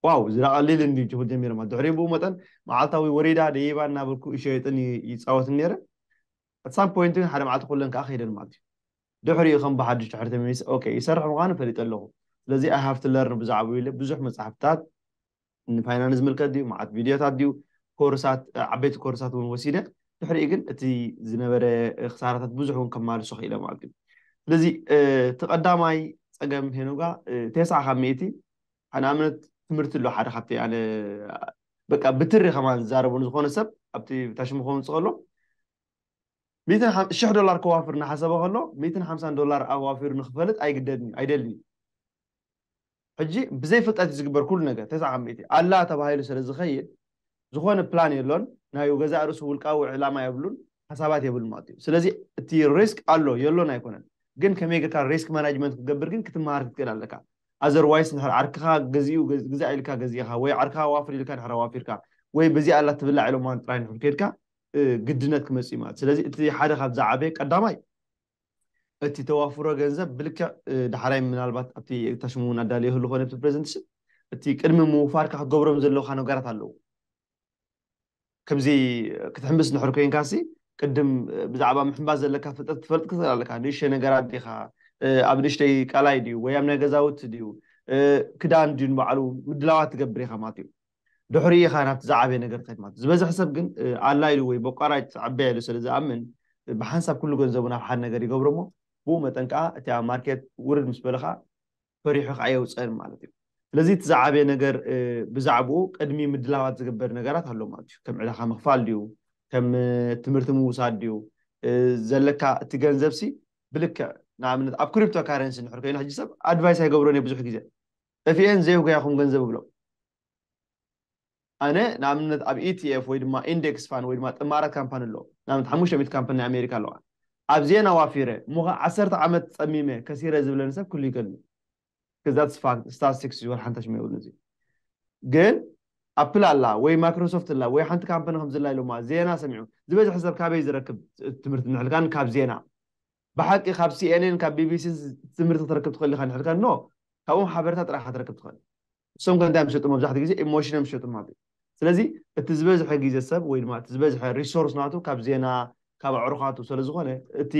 ዋው እዚ ደኣ ቀሊል እንድዩ ክብል ጀሚረ ማለት ድሕሪኡ ብኡ መጠን መዓልታዊ ወሪዳ ደይባ እናበልኩ ይሸየጥን ይፃወትን ነይረ ኣት ሳም ፖይንት ግን ሓደ መዓልቲ ኩለን ከዓ ከይደን ማለት እዩ ድሕሪኡ ከም ብሓድሽ ድሕሪ ተመሊሰ ኦኬ ይሰርሕ ምዃኑ ፈሊጠ ኣለኹ ስለዚ ኣይ ሃቭ ቱ ለርን ብዛዕብኡ ኢለ ብዙሕ መፅሓፍታት ንፋይናንስ ዝምልከት ድዩ መዓት ቪድዮታት ድዩ ኮርሳት ዓበይቲ ኮርሳት እውን ወሲደ ድሕሪኡ ግን እቲ ዝነበረ ክሳራታት ብዙሕ እውን ከማልሶ ክኢለ ማለት እዩ ስለዚ እቲ ቀዳማይ ፀገም ሄኖጋ ቴስዓ ካብ ሚእቲ ንኣብነት ትምህርቲ ኣሎ ሓደ ካብቲ ኣነ በቃ ብትሪ ከማን ዝዛረቡ ንዝኾነ ሰብ ኣብቲ ታሽሙ ከውንፅ ከሎ ሽሕ ዶላር ከዋፍር እናሓሰበ ከሎ ሚእትን ሓምሳን ዶላር ኣዋፊሩ ንክፈልጥ ኣይግደድን እዩ ኣይደልን እዩ ሕጂ ብዘይ ፍልጠት እዩ ዝግበር ኩሉ ነገር ተስዓ ካብ ሚእቲ ኣላ ተባሂሉ ስለ ዝከይድ ዝኮነ ፕላን የሎን ናይ ገዛእ ርእሱ ውልቃዊ ዕላማ የብሉን ሓሳባት የብሉን ማለት እዩ ስለዚ እቲ ሪስክ ኣሎ የሎን ኣይኮነን ግን ከመይ ጌርካ ሪስክ ማናጅመንት ክትገብር ግን ክትመሃር ክትክእል ኣለካ ኣዘርዋይስ እንድሕር ዓርክካ ገዚኡ ግዛእ ኢልካ ገዚእካ ወይ ዓርክካ ኣዋፍር ኢልካ እንድሕር ኣዋፊርካ ወይ በዚኣ ኣላ ትብላዕ ኢሎማ ጥራይ እንድሕር ኬድካ ግድነት ክመጽእ እዩ ማለት ስለዚ እቲ ሓደ ካብ ዝዓበየ ቀዳማይ እቲ ተዋፍሮ ገንዘብ ብልክዕ ዳሕራይ ምናልባት ኣብቲ ታሽሙ እውን ኣዳልዮ ህሉ ኮነ ኣብቲ ፕሬዘንትሽን እቲ ቅድሚ ምውፋርካ ክትገብሮም ዘለውካ ነገራት ኣለዉ ከምዚ ክትሕምብስ ንሕር ኮንካሲ ቅድም ብዛዕባ ምሕምባስ ዘለካ ፍልጠት ክትፈልጥ ክትኽእል ኣለካ ንእሽተይ ነገራት ዲኻ ኣብ ንእሽተይ ቃላይ ድዩ ወይ ኣብ ናይ ገዛውቲ ድዩ ክዳን ድዩ ንባዕሉ ምድላዋት ትገብር ኢኻ ማለት እዩ ድሕሪኡ ኢኻ ናብቲ ዝዓበየ ነገር ትኸይድ ማለት እዩ። ዝበዝሐ ሰብ ግን ኣላ ኢሉ ወይ በቋራጭ ትዕበያ ኢሉ ስለ ዝኣምን ብሓንሳብ ኩሉ ገንዘቡ ናብ ሓደ ነገር ይገብሮ እሞ ብኡ መጠን ከኣ እቲ ኣብ ማርኬት ውርድ ምስ በለ ከኣ ፈሪሑ ከኣ ኣየውጽእን ማለት እዩ። ስለዚ እቲ ዝዓበየ ነገር ብዛዕብኡ ቅድሚ ምድላዋት ዝግበር ነገራት ኣሎ ማለት እዩ። ከም ዕዳኻ ምኽፋል ድዩ? ከም ትምህርቲ ምውሳድ ድዩ? ዘለካ እቲ ገንዘብሲ ብልክዕ ንኣብነት ኣብ ክሪፕቶ ካረንሲ እንድሕር ኮይኑ ሕጂ ሰብ ኣድቫይስ ኣይገብሮን እየ ብዙሕ ግዜ ጠፊኤን ዘየጉያኹም ገንዘብ እብሎም። ኣነ ንኣብነት ኣብ ETF ወይ ድማ ኢንደክስ ፋን ወይ ድማ ጥማራት ካምፓኒ ኣሎ። ንኣብነት ሓሙሽተ ሚእቲ ካምፓኒ ናይ ኣሜሪካ ኣለዋ። ኣብዚኤን ኣዋፊረ እሞ ከኣ ዓሰርተ ዓመት ጸሚመ ከሲረ ዝብለኒ ሰብ ክህሉ ይከልእዩ። Because that's fact statistics is what ሓንታች መይብሉን እዚ ግን ኣፕል ኣላ ወይ ማክሮሶፍት ኣላ ወይ ሓንቲ ካምፓኒ ከምዚ ኣላ ኢሎማ ዜና ሰሚዑ ዝበዝሐ ሰብ ካበይ ዝረክብ ትምህርቲ ንሕልካን ካብ ዜና ብሓቂ ካብ ሲኤንኤን ካብ ቢቢሲን ትምህርቲ ክትረክብ ትኽእል ኢኻ እንድሕር ከኖ ካብኦም ሓበሬታ ጥራሕ ኢኻ ክትረክብ ትኽእል እሶም ከ እንታይ እዮም ዝሸጡ መብዛሕትኡ ግዜ ኢሞሽን እዮም ዝሸጡ ማለት እዩ ስለዚ እቲ ዝበዝሐ ግዜ ሰብ ወይ ድማ እቲ ዝበዝሐ ሪሶርስ ናቱ ካብ ዜና ካብ ኣዕሩኻቱ ስለዝኾነ እቲ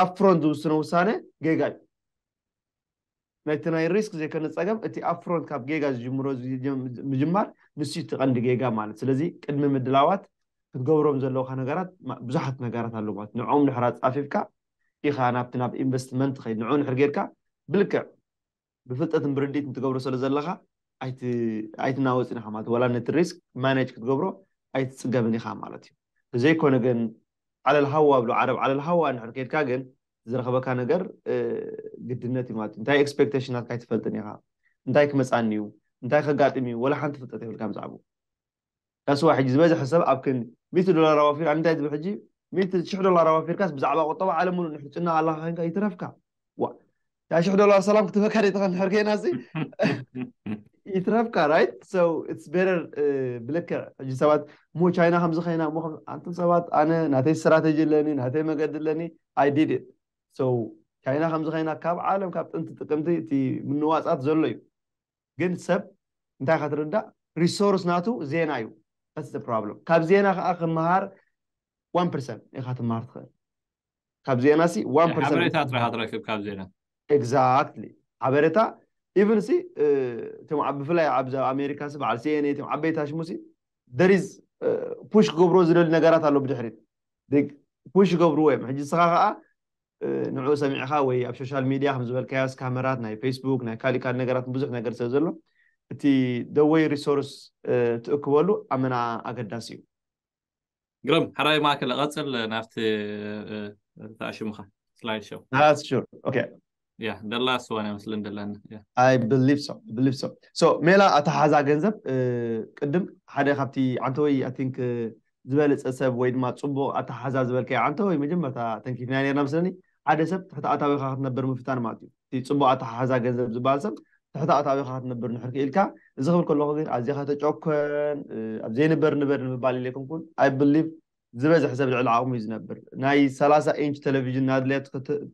ኣፕፍሮንት ዝውስኖ ውሳነ ጌጋ እዩ ነቲ ናይ ሪስክ ዘይኮነ ጸገም እቲ ኣፕፍሮንት ካብ ጌጋ ዝጅምሮ ምጅማር ንሱዩ እቲ ቀንዲ ጌጋ ማለት ስለዚ ቅድሚ ምድላዋት ክትገብሮም ዘለውካ ነገራት ብዙሓት ነገራት ኣለው ማለት ንዕኦም ድሕር ኣጻፊፍካ ኢኻ ናብቲ ናብ ኢንቨስትመንት ትኸይድ ንዑኡ ድሕር ጌርካ ብልክዕ ብፍልጠትን ብርዲትን ትገብሮ ስለ ዘለኻ ኣይቲ ኣይትናወጽን ኢኻ ማለት ወላ ነቲ ሪስክ ማኔጅ ክትገብሮ ኣይትጽገምን ኢኻ ማለት እዩ ብዘይኮነ ግን ዓለል ሃዋ ኣብሉ ዓረብ ዓለል ሃዋ ድሕር ኬድካ ግን ዝረኽበካ ነገር ግድነት እዩ ማለት እዩ እንታይ ኤክስፔክቴሽን ናትካ ኣይትፈልጥን ኢኻ እንታይ ክመፃኒ እዩ እንታይ ከጋጥም እዩ ወላ ሓንቲ ፍልጠት የብልካ ብዛዕባኡ ዳስዋ ሕጂ ዝበዝሐ ሰብ ኣብ ክን ሚእቲ ዶላር ኣዋፊር ኣነ እንታይ ትብል ሕጂ ሚእቲ ሽሕ ዶላር ኣዋፊርካስ ብዛዕባ ቁጠባ ዓለም ምሉእ ንሕር ጭና ኣለካ ኮይንካ ይትረፍካ ዋ እታ ሽሕ ዶላር ሰላም ክትበካ ደይትኸን ንሕር ከይና ሲ ይትረፍካ ራይት ሶ ኢትስ ቤተር ብልክዕ ሕጂ ሰባት እሞ ቻይና ከምዚ ከይና እሞ ኣንቱም ሰባት ኣነ ናተይ ስትራተጂ ኣለኒ ናተይ መገዲ ኣለኒ ኣይ ዲድ ኢት ሶ ቻይና ከምዚ ከይና ካብ ዓለም ካብ ጥንቲ ጥቅምቲ እቲ ምንዋጻት ዘሎ እዩ ግን ሰብ እንታይ ከትርዳእ ሪሶርስ ናቱ ዜና እዩ ስ ፕሮብለም ካብ ዜና ከዓ ክምሃር ዋን ፐርሰንት ኢኻ ትምሃር ትኽእል ካብ ዜና ሲ ዋን ፐርሰንት ሓበሬታ ጥራሕ ትረክብ ካብ ዜና ኤግዛክትሊ ሓበሬታ ኢቭን ሲ እቶም ኣብ ብፍላይ ኣብ ኣሜሪካ ሲ በዓል ሲኤንኤ እቶም ዓበይቲ ኣሽሙ ሲ there is ፑሽ ክገብሮ ዝደሊ ነገራት ኣሎ ብድሕሪት ፑሽ ይገብርዎ እዮም ሕጂ ንስኻ ከዓ ንዕኡ ሰሚዕኻ ወይ ኣብ ሶሻል ሚድያ ከም ዝበልካዮስ ካመራት ናይ ፌስቡክ ናይ ካሊእ ካልእ ነገራት ብዙሕ ነገር ስለ ዘሎ እቲ ደወይ ሪሶርስ ትእክበሉ ኣመና ኣገዳሲ እዩ ግርም ሓራይ ማእከል ቀጽል ናብቲ ተኣሽምኻ ስላይድ ሾው That's sure. Okay. ያ ደላ ስዋን ይመስልን ደላና ያ I believe so. I believe so. So ሜላ ኣተሓዛ ገንዘብ እ፣ ቅድም ሓደ ካብቲ ዓንተወይ I think እ፣ ዝበለፀ ሰብ ወይ ድማ ፅቡቕ ኣተሓዛ ዝበልካዮ ዓንተወይ መጀመርታ ተንኪፍና ነርና መስለኒ ሓደ ሰብ ትሕቲ ኣታዊኻ ክትነብር ምፍታን ማለት እዩ እቲ ጽቡቕ ኣተሓሕዛ ገንዘብ ዝበሃል ሰብ ትሕቲ ኣታዊኻ ክትነብር ንሕር ክኢልካ፣ እዚ ክብል ከለኹ ግን ኣዚኻ ተጨኮን ኣብ ዘይንበር ንበር ንምባል ኢለ ኣይኮንኩን፣ I believe ዝበዝሕ ሰብ ልዕሊ ዓቕሙ እዩ ዝነብር፣ ናይ ሰላሳ ኢንች ተለቪዥን ናድለየት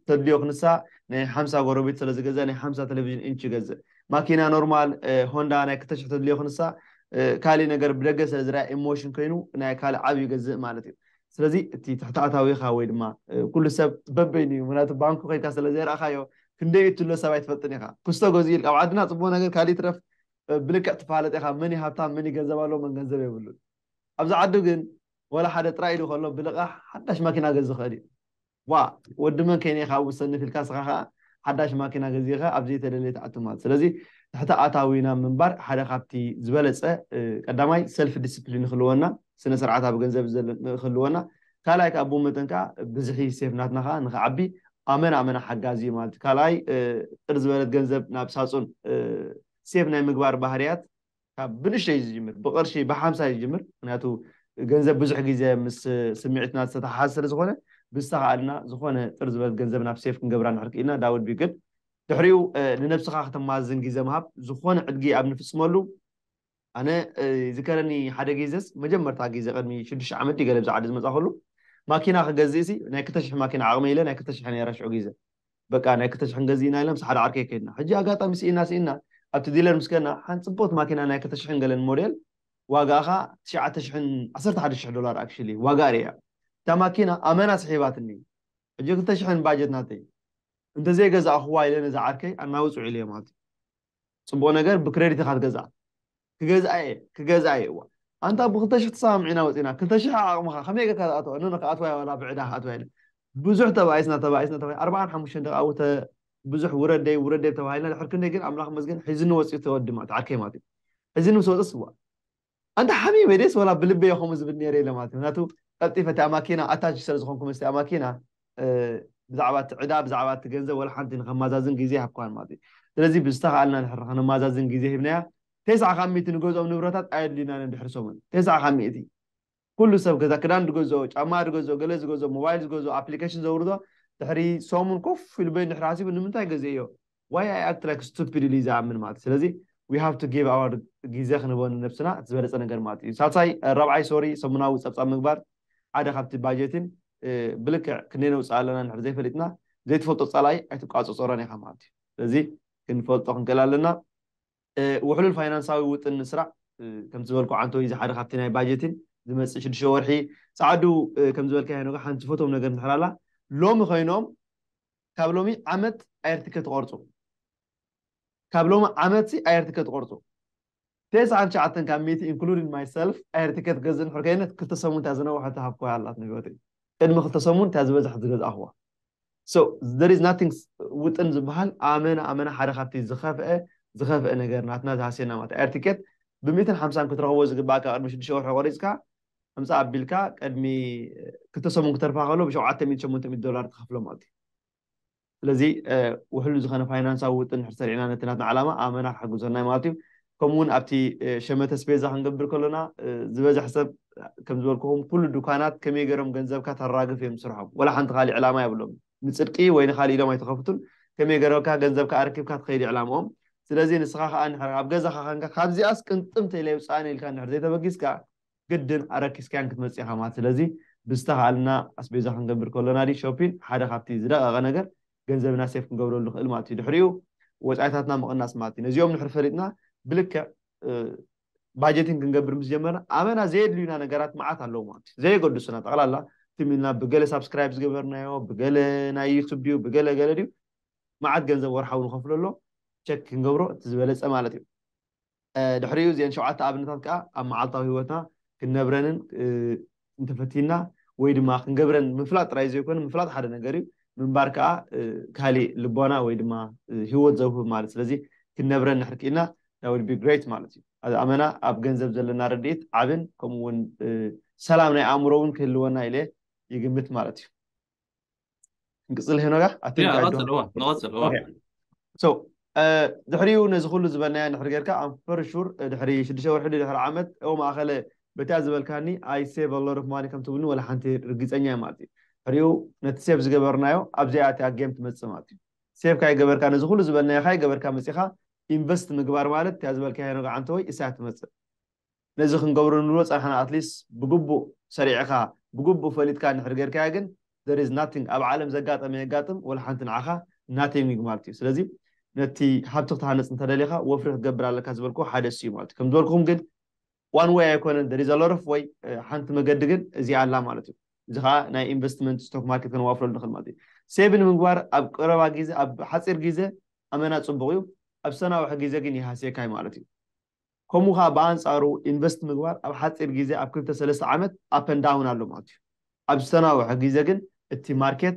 ተድልዮ ክንሳ ናይ ሓምሳ ጎረቤት ስለ ዝገዝእ ናይ ሓምሳ ተለቪዥን ኢንች ይገዝእ፣ ማኪና ኖርማል ሆንዳ ናይ ክልተ ሽሕ ተድልዮ ክንሳ ካሊእ ነገር ብደገ ስለ ዝርኣ ኢሞሽን ኮይኑ ናይ ካልእ ዓብዩ ይገዝእ ማለት እዩ። ስለዚ እቲ ትሕተኣታዊኻ ወይ ድማ ኩሉ ሰብ በበይኑ እዩ ምክንያቱ ባንኩ ከይድካ ስለ ዘይረኣኻዮ ክንደይ እትሎ ሰብ ኣይትፈልጥን ኢኻ ኩስቶ ገዚኡ ኢልካ ኣብ ዓድና ጽቡቅ ነገር ካልእ ይትረፍ ብልክዕ ትፋለጥ ኢኻ መን እዩ ሃብታም መን እዩ ገንዘብ ኣለዎ መን ገንዘብ የብሉን ኣብዚ ዓዱ ግን ወላ ሓደ ጥራይ ኢሉ ከሎ ብልቃሕ ሓዳሽ ማኪና ገዝ ዝኽእል እዩ ዋእ ወዲ መን ከይነ ኢካ ብ ሰንፍ ኢልካ እስካ ከኣ ሓዳሽ ማኪና ገዚእካ ኣብ ዘይተደልየ ትኣቱ ማለት ስለዚ ትሕተ ኣታዊ ናብ ምንባር ሓደ ካብቲ ዝበለጸ ቀዳማይ ሰልፍ ዲስፕሊን ንክህልወና ስነ ስርዓት ኣብ ገንዘብ ዘለ ንክህልወና ካልኣይ ከኣ ብኡ መጠን ከኣ ብዝሒ ሴፍ ናትና ከኣ ንክዓቢ ኣመና ኣመና ሓጋዚ እዩ ማለት እዩ ካልኣይ ጥር ዝበለት ገንዘብ ናብ ሳጹን ሴፍ ናይ ምግባር ባህርያት ካብ ብንእሽተይ እዩ ዝጅምር ብቅርሺ ብሓምሳ እዩ ዝጅምር ምክንያቱ ገንዘብ ብዙሕ ግዜ ምስ ስምዒትና ዝተተሓሓዝ ስለ ዝኮነ ብዝተካኣልና ዝኮነ ጥር ዝበለት ገንዘብ ናብ ሴፍ ክንገብራ እንድሕር ኪኢልና ዳት ዉድ ቢ ግድ ድሕሪኡ ንነብስካ ከተማዝን ግዜ ምሃብ ዝኮነ ዕድጊ ኣብ ንፍጽመሉ ኣነ ይዝከረኒ ሓደ ግዜስ መጀመርታ ግዜ ቅድሚ ሽዱሽተ ዓመት ድዩ ገለ ብዚ ዓዲ ዝመጻኩሉ ማኪና ክገዝእሲ ናይ ክልተ ሽሕ ማኪና ዓቅመይ ኢለ ናይ ክልተ ሽሕ ነይራ ሽዑ ግዜ በቃ ናይ ክልተ ሽሕን ገዚእና ኢልና ምስ ሓደ ዓርከይ ከይድና ሕጂ ኣጋጣሚ ስኢንና ስኢንና ኣብቲ ዲለር ምስ ከድና ሓንቲ ጽብቕቲ ማኪና ናይ ክልተ ሽሕን ገለን ሞዴል ዋጋኣ ከኣ ትሽዓተ ሽሕን ዓሰርተ ሓደ ሽሕ ዶላር ኣክሽሊ ዋጋኣ ርእያ እታ ማኪና ኣመና ስሒባትኒ ሕጂ ክልተ ሽሕን ባጀት ናተይ እንተዘይገዛእኹዋ ኢለ ነዚ ዓርከይ ኣናውጽዑ ኢለዮ ማለት እዩ ጽቡቕ ነገር ብክረዲት ኢኻ ትገዝኣ ክገዝኣ እየ ክገዝኣ እየ እዋ ኣንታ ብክልተ ሽሕ ተሰማሚዕና ወጺእና ክልተ ሽሕ ኣብ ዓቅምካ ከመይ ጌርካ ትኣትዋ ኖኖ ክኣትዋ እየ ዋላ ብዕዳ ክኣትዋ ኢለ ብዙሕ ተባኢስና ተባኢስና ተባኢስና ኣርባዓን ሓሙሽተን ደቂ ኣብኡ ተ ብዙሕ ውረድ ደይ ውረድ ደይ ተባሂልና ድሕሪ ክንደይ ግን ኣምላኽ ይመስገን ሒዙኒ ወጺኡ እቲ ወዲ ማለት ዓርከይ ማለት እዩ ሒዙኒ ምስ ወጸስ እዋ ኣንታ ሓሚመ ድየስ ዋላ ብልበይ እየ ከምኡ ዝብል ኔረ ኢለ ማለት እዩ ምክንያቱ ቀልጢፈ እቲኣ ማኪና ኣታች ስለ ዝኾንኩ ምስቲኣ ማኪና ብዛዕባ እቲ ዕዳ ብዛዕባ እቲ ገንዘብ ወላ ሓንቲ ንከማዛዝን ግዜ ኣይሃብክዋን ማለት እዩ ስለዚ ብዝተኻኣልና ንሕር ከነማዛዝን ግዜ ሂብናያ ቴስዓ ካብ ሚእቲ ንገዝኦም ንብረታት ኣየድልዩናን እዮም ድሕሪ ሰሙን ቴስዓ ካብ ሚእቲ ኩሉ ሰብ ገዛ ክዳን ዝገዝኦ ጫማ ዝገዝኦ ገለ ዝገዝኦ ሞባይል ዝገዝኦ ኣፕሊከሽን ዘውርዶ ድሕሪ ሰሙን ኮፍ ኢሉ በይኑ ድሕሪ ሓሲቡ ንምንታይ ገዚኤዮ ዋይ ኣይ ኣክት ላይክ ስቱፒድ ኢሉ እዩ ዝኣምን ማለት እዩ ስለዚ ዊ ሃቭ ቱ ጊቭ ኣወር ግዜ ክንህቦ ንነብስና እቲ ዝበለፀ ነገር ማለት እዩ ሳልሳይ ራብዓይ ሶሪ ሰሙናዊ ፀብፃብ ምግባር ሓደ ካብቲ ባጀትን ብልክዕ ክንደይ ነውፅእ ኣለና ንድሕር ዘይፈሊጥና ዘይትፈልጦ ፀላኢ ኣይትቋፀፀሮን ኢኻ ማለት እዩ ስለዚ ክንፈልጦ ክንክእል ኣለና ውሕሉል ፋይናንሳዊ ውጥን ምስራዕ ከምቲ ዝበልኩ ዓንተወይ እዚ ሓደ ካብቲ ናይ ባጀትን ዝመፅእ ሽዱሽተ ወርሒ ፃዕዱ ከም ዝበልካዮ ነገ ሓንቲ ፈቶም ነገር እንድሕር ኣላ ሎሚ ኮይኖም ካብ ሎሚ ዓመት ኣየርትከ ትቆርጹ ካብ ሎሚ ዓመት ሲ ኣየርትከ ትቆርጹ ተስዓን ትሽዓተን ካብ ሚእቲ ኢንክሉዲንግ ማይ ሰልፍ ኣየርትከ ትገዝእ እንድሕር ከይነት ክልተ ሰሙን እታ ዝነውሐት ዝሃብኩዋ ኣላትኒ ብሂወተይ ቅድሚ ክልተ ሰሙን እታ ዝበዝሐት ዝገዛእኩዋ so there is nothing ውጥን ዝበሃል ኣመና ኣመና ሓደ ካብቲ ዝኸፍአ ዝኸፍአ ነገር ናትና ዝሃስየና ማለት ኣየር ቲኬት ብሚእትን ሓምሳን ክትረኽቦ ዝግባእካ ቅድሚ ሽዱሽተ ወርሒ ቆሪጽካ ኣምጽኣ ኣቢልካ ቅድሚ ክልተ ሰሙን ክተርፋ ከሎ ብሸውዓተ ሚእቲ ሸሞንተ ሚእቲ ዶላር ትኸፍሎም ኣቲ ስለዚ ውሕሉ ዝኸነ ፋይናንሳዊ ውጥን ድሕር ሰሪዕና ነቲ ናትና ዓላማ ኣመና ክሕግዞናዩ ማለት እዩ ከምኡ እውን ኣብቲ ሸመተ ስፔዛ ክንገብር ከሎና ዝበዝሕ ሰብ ከም ዝበልኩኹም ኩሉ ዱካናት ከመይ ገይሮም ገንዘብካ ተራግፍ እዮም ስርሖም ወላ ሓንቲ ካሊእ ዕላማ የብሎም ንጽድቂ ወይ ንካልእ ኢሎም ኣይተከፍቱን ከመይ ገረብካ ገንዘብካ ኣረኪብካ ትከይድ ዕላምኦም ስለዚ ንስካ ከኣ እንድሕር ኣብ ገዛካ ከንካ ካብዚኣስ ቅንጥም ተይለ የውጽኣኒ ኢልካ እንድሕር ዘይተበጊስካ ግድን ኣረኪስካያን ክትመጽእ ኢካ ማለት ስለዚ ብዝተካኣልና ኣስቤዛ ክንገብር ከሎና ድዩ ሾፒን ሓደ ካብቲ ዝደቀቀ ነገር ገንዘብና ሴፍ ክንገብረሉ ንክእል ማለት እዩ ድሕሪኡ ወጻኢታትና ምቅናስ ማለት እዩ ነዚኦም እንድሕር ፈሊጥና ብልክዕ ባጀትን ክንገብር ምስ ጀመርና ኣመና ዘየድልዩና ነገራት መዓት ኣለዉ ማለት እዩ ዘየገድሱና ጠቕላላ ትም ኢልና ብገለ ሳብስክራይብ ዝገበርናዮ ብገለ ናይ ዩቱብ ድዩ ብገለ ገለ ድዩ መዓት ገንዘብ ወርሓዊ ንኸፍለሎ ቸክ ክንገብሮ እቲ ዝበለፀ ማለት እዩ ድሕሪኡ እዚአን ሸውዓተ ኣብነታት ከዓ ኣብ መዓልታዊ ህይወትና ክንነብረንን እንተፈቲና ወይ ድማ ክንገብረን ምፍላጥ ጥራይ ዘይኮነ ምፍላጥ ሓደ ነገር እዩ ምንባር ከዓ ካሊእ ልቦና ወይ ድማ ህይወት ዘውህብ ማለት ስለዚ ክንነብረን ንሕር ክኢልና that would be great ማለት እዩ ኣዚ ኣመና ኣብ ገንዘብ ዘለና ረድኢት ዓብን ከምኡ እውን ሰላም ናይ ኣእምሮ እውን ክህልወና ኢለ ይግምት ማለት እዩ ንቅፅል ሄኖጋ ድሕሪኡ ነዚ ኩሉ ዝበልናዮ ድሕሪ ጌርካ ኣም ቨሪ ሹር ድሕሪ ሽዱሽተ ወርሒ ድሕሪ ዓመት ኦ ማእኸለ በቲኣ ዝበልካኒ ኣይ ሴቭ ኣሎት ኦፍ ማኒ ከም ትብልኒ ዋላ ሓንቲ ርግፀኛ እየ ማለት እዩ ድሕሪኡ ነቲ ሴቭ ዝገበርናዮ ኣብዚኣ እቲኣ ጌም ትመፅእ ማለት እዩ ሴቭ ካይገበርካ ነዚ ኩሉ ዝበልናዮ ካይገበርካ መፂኻ ኢንቨስት ምግባር ማለት እቲኣ ዝበልካዮ ሄኖጋ ዓንተወይ እሳ እያ ትመፅእ ነዚ ክንገብሮ ንብሎ ጸናሕና at least ብግቡእ ሰሪዕኻ ብግቡእ ፈሊጥካ እንድሕር ጌርካዮ ግን there is nothing ኣብ ዓለም ዘጋጠመ የጋጥም ወላ ሓንቲ ንዓኻ nothing ማለት እዩ ስለዚ ነቲ ሃብቲ ክትሃንጽ እንተደሊኻ ወፍሪ ክትገብር ኣለካ ዝበልክዎ ሓደ እሱ እዩ ማለት እዩ ከም ዝበልኩም ግን ዋን ወይ ኣይኮነን there is a lot of way ሓንቲ መገዲ ግን እዚኣ ኣላ ማለት እዩ እዚ ከዓ ናይ ኢንቨስትመንት ስቶክ ማርኬት ከነዋፍረሉ ንኽእል ማለት እዩ ሴቭ ንምግባር ኣብ ቀረባ ግዜ ኣብ ሓፂር ግዜ ኣመና ፅቡቅ እዩ ኣብ ሰናውሒ ግዜ ግን ይሃስየካ ማለት እዩ ከምኡ ከኣ ብኣንጻሩ ኢንቨስት ምግባር ኣብ ሓጺር ግዜ ኣብ ክልተ ሰለስተ ዓመት up and down ኣሎ ማለት እዩ። ኣብ ዝተናውሐ ግዜ ግን እቲ ማርኬት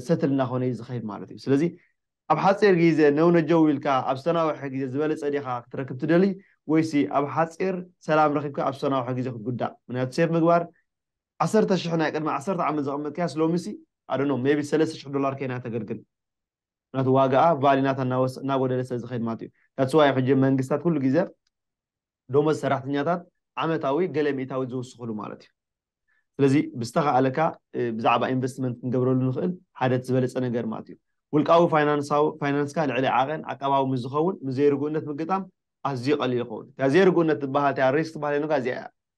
ሰትል እናኾነ እዩ ዝኸይድ ማለት እዩ። ስለዚ ኣብ ሓጺር ግዜ ነው ነጀው ኢልካ ኣብ ዝተናውሐ ግዜ ዝበለጸ ዲኻ ክትረክብ ትደሊ ወይሲ ኣብ ሓጺር ሰላም ረኺብካ ኣብ ዝተናውሐ ግዜ ክትጉዳእ ምክንያቱ ሴቭ ምግባር ዓሰርተ ሽሕ ናይ ቅድሚ ዓሰርተ ዓመት ዘቐመጥካያስ ሎሚሲ I don't know maybe ሰለስተ ሽሕ ዶላር ከይና ተገልግል። ምክንያቱ ዋጋኣ ቫሊ ናታ እናወሰ እናጎደለ ስለ ዝኸይድ ማለት እዩ that's why ሕጂ መንግስታት ኩሉ ግዜ ደሞዝ ሰራሕተኛታት ዓመታዊ ገለ ሚእታዊት ዝውስኽሉ ማለት እዩ ስለዚ ብዝተኻእለካ ብዛዕባ ኢንቨስትመንት ክንገብረሉ ንኽእል ሓደ እቲ ዝበለጸ ነገር ማለት እዩ ውልቃዊ ፋይናንሳዊ ፋይናንስካ ልዕሊ ዓቐን ዓቃባዊ ምስ ዝኸውን ምስ ዘይርጉእነት ምግጣም ኣዝዩ ቀሊል ይኸውን እታ ዘይርጉእነት ትበሃል እቲኣ ሪስክ ትበሃል ዮናጋ እዚኣ እያ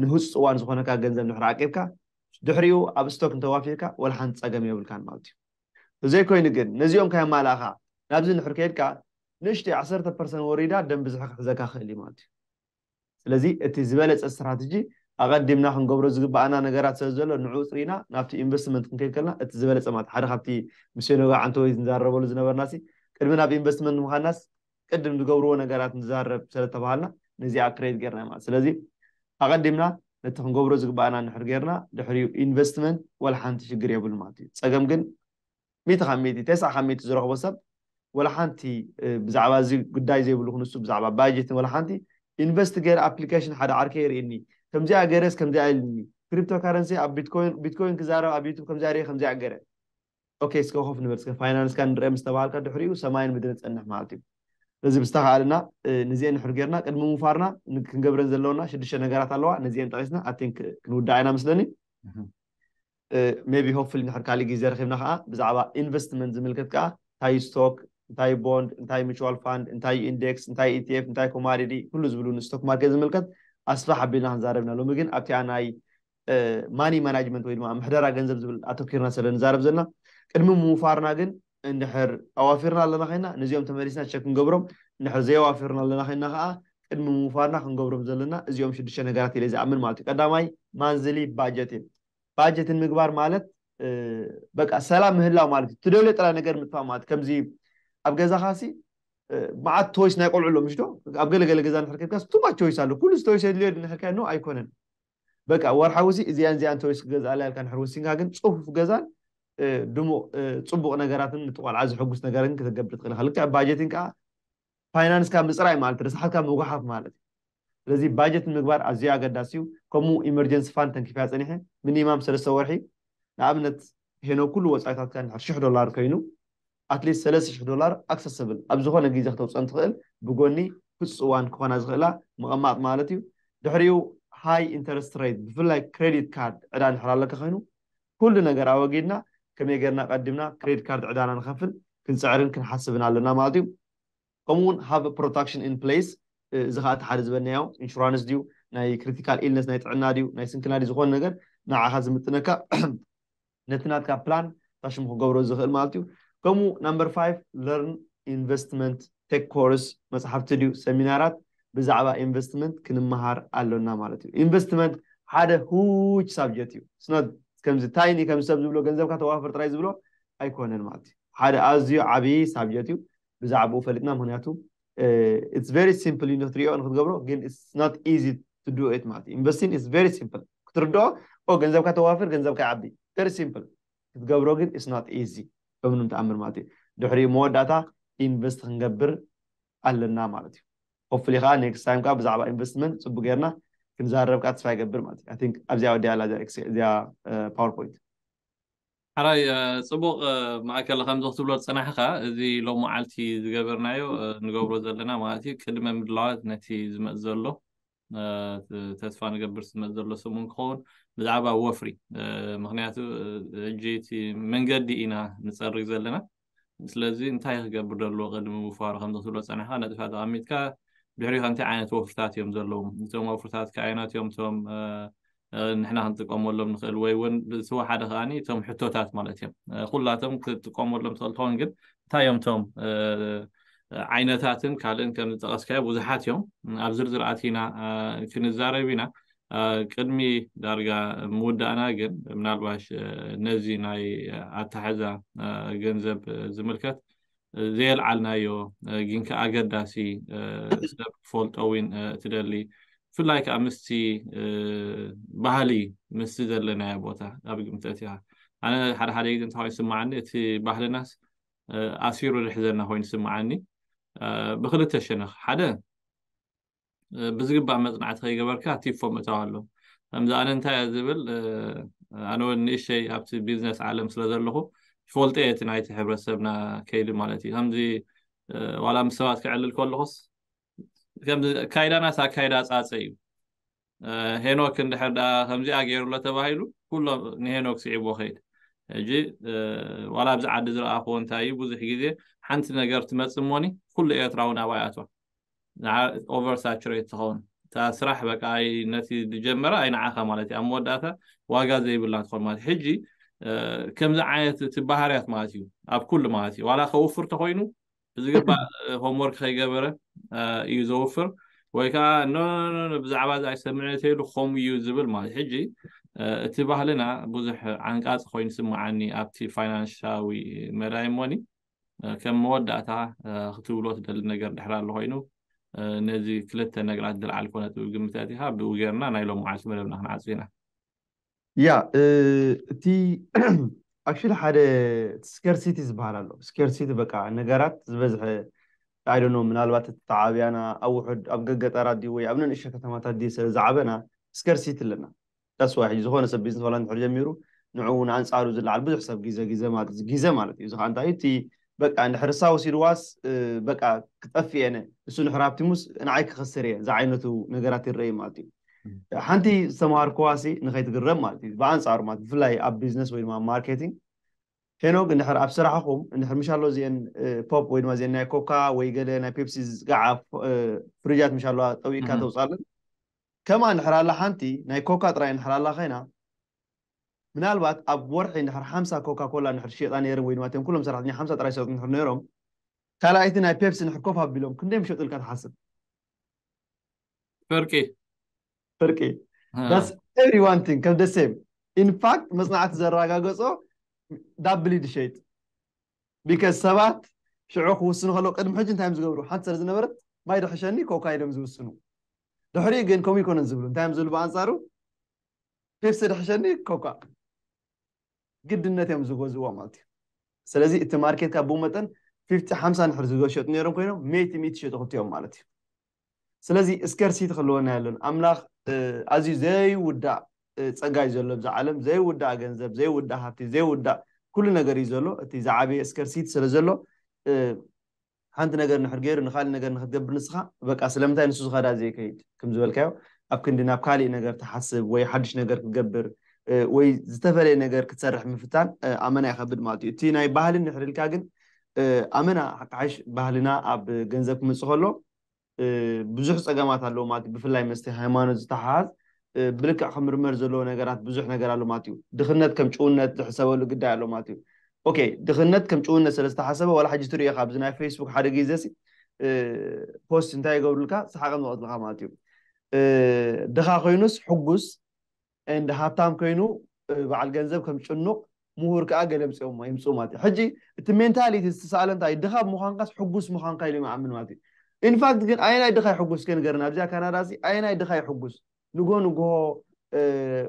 ንህጹጽ እዋን ዝኾነካ ገንዘብ እንድሕር ዓቂብካ፣ ድሕሪኡ ኣብ ስቶክ እንተዋፊርካ ዋላ ሓንቲ ጸገም የብልካን ማለት እዩ። እዘይ ኮይኑ ግን ነዚኦም ካየማላእኻ ናብዚ እንድሕር ከይድካ ንእሽተይ ዓሰርተ ፐርሰን ወሪዳ ደም ብዝሒ ክሕዘካ ይኽእል እዩ ማለት እዩ። ስለዚ እቲ ዝበለጸ ስትራተጂ ኣቐዲምና ክንገብሮ ዝግበኣና ነገራት ስለ ዘሎ ንዕኡ ጽሪና ናብቲ ኢንቨስትመንት ክንከይድ ከለና እቲ ዝበለጸ ማለት ሓደ ካብቲ ምስ ሄኖግ ኣዓንተወይ ንዛረበሉ ዝነበርናሲ ቅድሚ ናብ ኢንቨስትመንት ምኻድናስ ቅድም ዝገብርዎ ነገራት ንዛረብ ስለ ዝተባሃልና ነዚኣ ክሬት ጌርና ማለት ስለዚ ኣቐዲምና ነቲ ክንገብሮ ዝግባኣና እንድሕር ጌርና ድሕሪኡ ኢንቨስትመንት ዋላ ሓንቲ ሽግር የብሉን ማለት እዩ ጸገም ግን ሚእቲ ካብ ሚእቲ ተስዓ ካብ ሚእቲ ዝረኽቦ ሰብ ዋላ ሓንቲ ብዛዕባ እዚ ጉዳይ ዘይብሉ ክንሱ ብዛዕባ ባጀትን ዋላ ሓንቲ ኢንቨስት ገይረ ኣፕሊኬሽን ሓደ ዓርከይ የርእኒ ከምዚኣ ገይረስ ከምዚኣ ኢልኒ ክሪፕቶ ካረንሲ ኣብ ቢትኮይን ቢትኮይን ክዛረብ ኣብ ዩቱብ ከምዚኣ ሪኤ ከምዚኣ ገይረ ኦኬ እስከ ኮፍ ንበል እስከ ፋይናንስካ ንርኣ ምስ ተባሃልካ ድሕሪኡ ሰማይን ምድርን ጸንሕ ማለት እዩ እዚ ብዝተኻእለና ንዚኤን ንሕር ጌርና ቅድሚ ምፋርና ክንገብረን ዘለውና ሽዱሽተ ነገራት ኣለዋ ነዚኤን ጠቒስና ኣቲን ክንውዳዕ ኢና ምስለኒ ሜቢ ሆፕፍሊ ንሕር ካሊእ ግዜ ረኺብና ከዓ ብዛዕባ ኢንቨስትመንት ዝምልከት ከዓ እንታይ ስቶክ እንታይ ቦንድ እንታይ ሚቹዋል ፋንድ እንታይ ኢንዴክስ እንታይ ኢቲኤፍ እንታይ ኮማዲቲ ኩሉ ዝብሉ ንስቶክ ማርኬት ዝምልከት ኣስፋሕ ኣቢልና ክንዛረብና ሎሚ ግን ኣብቲኣ ናይ ማኒ ማናጅመንት ወይ ድማ ምሕደራ ገንዘብ ዝብል ኣተኪርና ስለ ንዛረብ ዘለና ቅድሚ ምውፋርና ግን እንድሕር ኣዋፊርና ኣለና ኮይና ንዚኦም ተመሊስና ቸክ ክንገብሮም እንድሕር ዘየዋፊርና ኣለና ኮይና ከዓ ቅድሚ ምውፋርና ክንገብሮም ዘለና እዚኦም ሽዱሽተ ነገራት ኢለ ዝኣምን ማለት እዩ ቀዳማይ ማንዝሊ ባጀት እዩ ባጀትን ምግባር ማለት በቃ ሰላም ምህላው ማለት እዩ ትደልዮ ጥራይ ነገር ምጥፋእ ማለት ከምዚ ኣብ ገዛኻሲ መዓት ቶይስ ናይ ቆልዑ ኣሎ ምሽ ዶ ኣብ ገለገለ ገዛ ንሕርከብካስ ቱማ ቾይስ ኣሎ ኩሉ ቶይስ የድልዮ ንሕርካያ ኖ ኣይኮነን በቃ ወርሓዊ'ሲ እዚኣን እዚኣን ተወይስ ክገዝኣላ ኢልካ እንድሕር ወሲንካ ግን ጽፉፍ ገዛን ድሙቕ ጽቡቕ ነገራትን ነቲ ቆልዓ ዘሐጉስ ነገርን ክትገብር ትኽእል ኢኻ። ልክዕ ባጀቲን ከኣ ፋይናንስካ ምጽራይ ማለት እዩ፣ ረሳሓትካ ምጉሓፍ ማለት እዩ። ስለዚ ባጀት ንምግባር ኣዝዩ ኣገዳሲ እዩ። ከምኡ ኢመርጀንሲ ፋንድ ተንኪፈያ ጸኒሐ ሚኒማም ሰለስተ ወርሒ ንኣብነት ሄኖክ ኩሉ ወጻኢታትካ እንድሕር ሽሕ ዶላር ኮይኑ ኣትሊስት ሰለስተ ሽሕ ዶላር ኣክሰሰብል ኣብ ዝኾነ ግዜ ክተውጽኣን ትኽእል ብጎኒ ክጽዋን ክኾና ዝኽእላ ምቐማጥ ማለት እዩ ድሕሪኡ ሃይ ኢንተረስት ሬት ብፍላይ ክሬዲት ካርድ ዕዳ እንድሕር ኣሎካ ኮይኑ ኩሉ ነገር ኣወጊድና ከመይ ጌርና ቀዲምና ክሬዲት ካርድ ዕዳና ንኸፍል ክንጽዕርን ክንሓስብን ኣሎና ማለት እዩ ከምኡ ውን ሃቭ ፕሮታክሽን ኢን ፕሌስ እዚ ከኣ እቲ ሓደ ዝበልናዮ ኢንሹራንስ ድዩ ናይ ክሪቲካል ኢልነስ ናይ ጥዕና ድዩ ናይ ስንክልና ድዩ ዝኾነ ነገር ንዓኻ ዝምጥነካ ነቲ ናትካ ፕላን ቐሽሙ ክገብሮ ዝኽእል ማለት እዩ። ከምኡ ናምበር ፋይቭ ለርን ኢንቨስትመንት ቴክ ኮርስ መጽሓፍቲ ድዩ ሰሚናራት ብዛዕባ ኢንቨስትመንት ክንመሃር ኣሎና ማለት እዩ። ኢንቨስትመንት ሓደ ሁጅ ሳብጀት እዩ ኢትስ ኖት ከምዚ ታይኒ ከምዚ ሰብ ዝብሎ ገንዘብካ ተዋፍር ጥራይ ዝብሎ ኣይኮነን ማለት እዩ። ሓደ ኣዝዩ ዓቢ ሳብጀት እዩ ብዛዕብኡ ፈሊጥና ምክንያቱ ኢትስ ቨሪ ሲምፕል ዩ ንክትሪኦ ንክትገብሮ ግን ኢትስ ኖት ኢዚ ቱ ዱ ኢት ማለት ዩ ኢንቨስቲን ኢትስ ቨሪ ሲምፕል ክትርድኦ ኦ ገንዘብካ ተዋፍር ገንዘብካ ይዓቢ ቨሪ ሲምፕል ክትገብሮ ግን ኢትስ ኖት ኢዚ በምንም ተኣምር ማለት ዩ ድሕሪኡ መወዳእታ ኢንቨስት ክንገብር ኣለና ማለት ዩ ሆፕፉሊ ከዓ ኔክስት ታይም ከዓ ብዛዕባ ኢንቨስትመንት ፅቡቅ ጌርና ክንዛረብ ከዓ ተስፋ ይገብር ማለት ዩ ኣይ ቲንክ ኣብዚኣ ወዲኣ ኣላ እዚኣ እዚኣ ፓወርፖይንት ሐራይ ጽቡቅ ማእከል ከምዚ ክትብሎ ዝጸናሕካ እዚ ሎሙዓልቲ ዝገበርናዮ ንገብሮ ዘለና ማለት እዩ ቅድመ ምድላዋት ነቲ ዝመጽ ዘሎ ተስፋ ንገብር ዝመጽ ዘሎ ሰሙን ክኸውን ብዛዕባ ወፍሪ ምክንያቱ ሕጂ እቲ መንገዲ ኢና ንጸርግ ዘለና ስለዚ እንታይ ክገብር ደለዎ ቅድሚ ምውፋሩ ከምዚ ክትብሎ ጸኒሕካ ነጥብታት ኣቐሚጥካ ድሕሪኡ ከ እንታይ ዓይነት ወፍርታት እዮም ዘለዉ እቶም ወፍርታት ከ ኣየናት እዮም እቶም ንሕና ክንጥቀመሎም ንኽእል ወይ እውን ዝተወሓደ ከዓ እቶም ሕቶታት ማለት እዮም ኩላቶም ክትጥቀመሎም ትኽእል ትኸውን ግን እንታይ እዮም እቶም ዓይነታትን ካልእን ከም ዝጠቐስካዮ ብዙሓት እዮም ኣብ ዝርዝር ኣቲና ክንዛረብ ኢና ቅድሚ ዳርጋ ምውዳእና ግን ምናልባሽ ነዚ ናይ ኣታሕዛ ገንዘብ ዝምልከት ዘየልዓልናዮ ግን ከ ኣገዳሲ ሰብ ክፈልጦ ዊን ትደሊ ብፍላይ ከዓ ምስቲ ባህሊ ምስቲ ዘለናዮ ቦታ ኣብ ግምተት እያ ኣነ ሓደ ሓደ ግዜ እንታይ ይስማዓኒ እቲ ባህልናስ ኣሲሩ ዝሕዘና ኮይኑ ይስማዓኒ ብክልተ ሸነኽ ሓደ ብዝግባእ መፅናዕቲ ከይገበርካ ቲፎ ምእታው ኣሎ ከምዚ ኣነ እንታይ እየ ዝብል ኣነ እውን ንእሸይ ኣብቲ ቢዝነስ ዓለም ስለ ዘለኹ ይፈልጦ እየ እቲ ናይቲ ሕብረተሰብና ከይዲ ማለት እዩ ከምዚ ዋላ ምስ ሰባት ክዕልል ከለኹስ ከምዚ ኣካይዳናስ ኣካይዳ ፃፀ እዩ ሄኖክ እንድሕር ደኣ ከምዚኣ ገይሩ ኣሎ ተባሂሉ ኩሎ ንሄኖክ ስዒቦ ከይድ ሕጂ ዋላ ኣብዚ ዓዲ ዝረኣኽዎ እንታይ እዩ ብዙሕ ግዜ ሓንቲ ነገር ትመፅእ እሞኒ ኩሉ ኤርትራዊ ናባይ ኣቶ ኦቨር ሳቹሬት ትኸውን እታ ስራሕ በቃ ነቲ ዝጀመረ ኣይንዓኻ ማለት እዩ ኣብ መወዳእታ ዋጋ ዘይብላ ትኾን ማለት ሕጂ ከምዚ ዓይነት እቲ ባህርያት ማለት እዩ ኣብ ኩሉ ማለት እዩ ዋላ ከውፍር ተኮይኑ ብዝግባእ ሆምወርክ ከይገበረ እዩ ዘውፍር ወይ ከዓ ኖ ብዛዕባ እዚ ኣይሰምዕን እተይሉ ከምኡ እዩ ዝብል ማለት ሕጂ እቲ ባህልና ብዙሕ ዓንቃፂ ኮይኑ ስምዓኒ ኣብቲ ፋይናንሻዊ መዳይ እሞኒ ከም መወዳእታ ክትብሎ ትደሊ ነገር ድሕር ኣሎ ኮይኑ ነዚ ክልተ ነገራት ድልዓል ኮነት ግምት ኣቲኻ ብኡ ጌርና ናይ ሎም መዓልቲ መደብና ክንዓፁ ኢና ያ እቲ ኣክሽሊ ሓደ ስከርሲቲ ዝበሃል ኣሎ ስከርሲቲ በቃ ነገራት ዝበዝሐ ኣይደኖ ምናልባት እቲ ተዓብያና ኣብ ውሑድ ኣብ ገገጠራት ድዩ ወይ ኣብ ነንእሸ ከተማታት ድዩ ስለ ዝዓበና ስከርሲቲ ኣለና ዳስዋይ ሕጂ ዝኾነ ሰብ ቢዝነስ ዋላ እንድሕር ጀሚሩ ንዕኡ ንኣንጻሩ ዝለዓል ብዙሕ ሰብ ግዘ ግዘ ማለት ግዘ ማለት እዩ እዚ ከዓ እንታይ እቲ በቃ እንድሕር እሳ ወሲድዋስ በቃ ክጠፍእ እየ ንሱ እንድሕር ሃብቲሙስ ንዓይ ክኸስር እየ ዝዓይነቱ ነገራት ይረኣዩ ማለት እዩ ሓንቲ ዝተምሃርኩዋ ሲ ንኸይትግረም ማለት እዩ ብኣንፃሩ ማለት ብፍላይ ኣብ ቢዝነስ ወይ ድማ ማርኬቲንግ ሄኖግ እንድሕር ኣብ ስራሕኹም እንድሕር ምሻሎ እዚአን ፖፕ ወይ ድማ እዚአን ናይ ኮካ ወይ ገለ ናይ ፔፕሲ ዝጋዓ ፍሪጃት ምሻለዋ ጠዊቅካ ተውፃለን ከማ እንድሕር ኣላ ሓንቲ ናይ ኮካ ጥራይ እንድሕር ኣላ ኮይና ምናልባት ኣብ ወርሒ እንድሕር ሓምሳ ኮካ ኮላ እንድሕር ሸይጣ ነይረን ወይ ድማ እቶም ኩሎም ሰራሕተኛ ሓምሳ ጥራይ ዝሸጡ እንድሕር ነይሮም ካልኣይቲ ናይ ፔፕሲ እንድሕር ኮፍ ኣቢሎም ክንደይ ምሸጡ ኢልካ ትሓስብ? ፍርቂ ፍርቂ That's every one thing ከም the same in fact መጽናዕቲ ዘረጋገጾ ዳብሊ ድሸይጥ because ሰባት ሽዑ ክውስኑ ከለዉ ቅድሚ ሕጂ እንታይ እዮም ዝገብሩ ሓንቲ ስለ ዝነበረት ማይ ድሕሸኒ ኮካ ኢሎም ዝውስኑ ድሕሪኡ ግን ከምኡ ይኮነን ዝብሉ እንታይ እዮም ዝብሉ ብኣንጻሩ ፒፕሲ ድሕሸኒ ኮካ ግድነት እዮም ዝገዝእዎ ማለት እዩ ስለዚ እቲ ማርኬት ካብ ብኡ መጠን ፊፍቲ ሓምሳ ንድሕር ዝሸጡ ነይሮም ኮይኖም ሜይቲ ሚእቲ ሸጡ ክልቲኦም ማለት እዩ ስለዚ ስከርሲቲ ክህልወና የለን ኣምላኽ ኣዝዩ ዘይውዳእ ጸጋ እዩ ዘሎ ብዛ ዓለም ዘይውዳእ ገንዘብ ዘይውዳእ ሃብቲ ዘይውዳእ ኩሉ ነገር እዩ ዘሎ እቲ ዝዓበየ ስከርሲቲ ስለ ዘሎ ሓንቲ ነገር እንድሕር ገይሩ ንኻሊእ ነገር ንኽትገብር ንስኻ በቃ ስለምንታይ ንሱ ዝኸዳ ዘይከይድ ክም ዝበልካዮ ኣብ ክንዲ ናብ ካሊእ ነገር ትሓስብ ወይ ሓድሽ ነገር ክትገብር ወይ ዝተፈለየ ነገር ክትሰርሕ ምፍታን ኣመና ይኸብድ ማለት እዩ እቲ ናይ ባህሊ እንድሕር ኢልካ ግን ኣመና ሓቃሓይሽ ባህልና ኣብ ገንዘብ ክመፅእ ከሎ ብዙሕ ጸገማት ኣለዎ ማለት እዩ። ብፍላይ ምስቲ ሃይማኖት ዝተሓሓዝ ብልክዕ ክምርመር ዘለዎ ነገራት ብዙሕ ነገር ኣሎ ማለት እዩ። ድኽነት ከም ጭውነት ዝሕሰበሉ ግዳይ ኣሎ ማለት እዩ። ኦኬ ድኽነት ከም ጭውነት ስለ ዝተሓሰበ ዋላ ሕጂ ትርእዮ ኢኻ ኣብዚ ናይ ፈይስቡክ ሓደ ግዜሲ ፖስት እንታይ ይገብሩልካ ሰሓቕም ዝቐትልኻ ማለት እዩ። ድኻ ኮይኑስ ሕጉስ and ሃብታም ኮይኑ በዓል ገንዘብ ከም ጭኑቕ ምሁር ከኣ ገለ ኣምጺኦሞ የምጽኡ ማለት እዩ ሕጂ እቲ ሜንታሊቲ ዝተሳእለ እንታይ እዩ ድኻ ብምዃንካስ ሕጉስ ምዃንካ ኢሎም ይኣምኑ ማለት እዩ ኢንፋክት ግን ኣየናይ ድኻ ይሕጉስ እስከ ንገረና ኣብዚኣ ካናዳ እዚ ኣየናይ ድኻ ይሕጉስ ንጎ ንጎሆ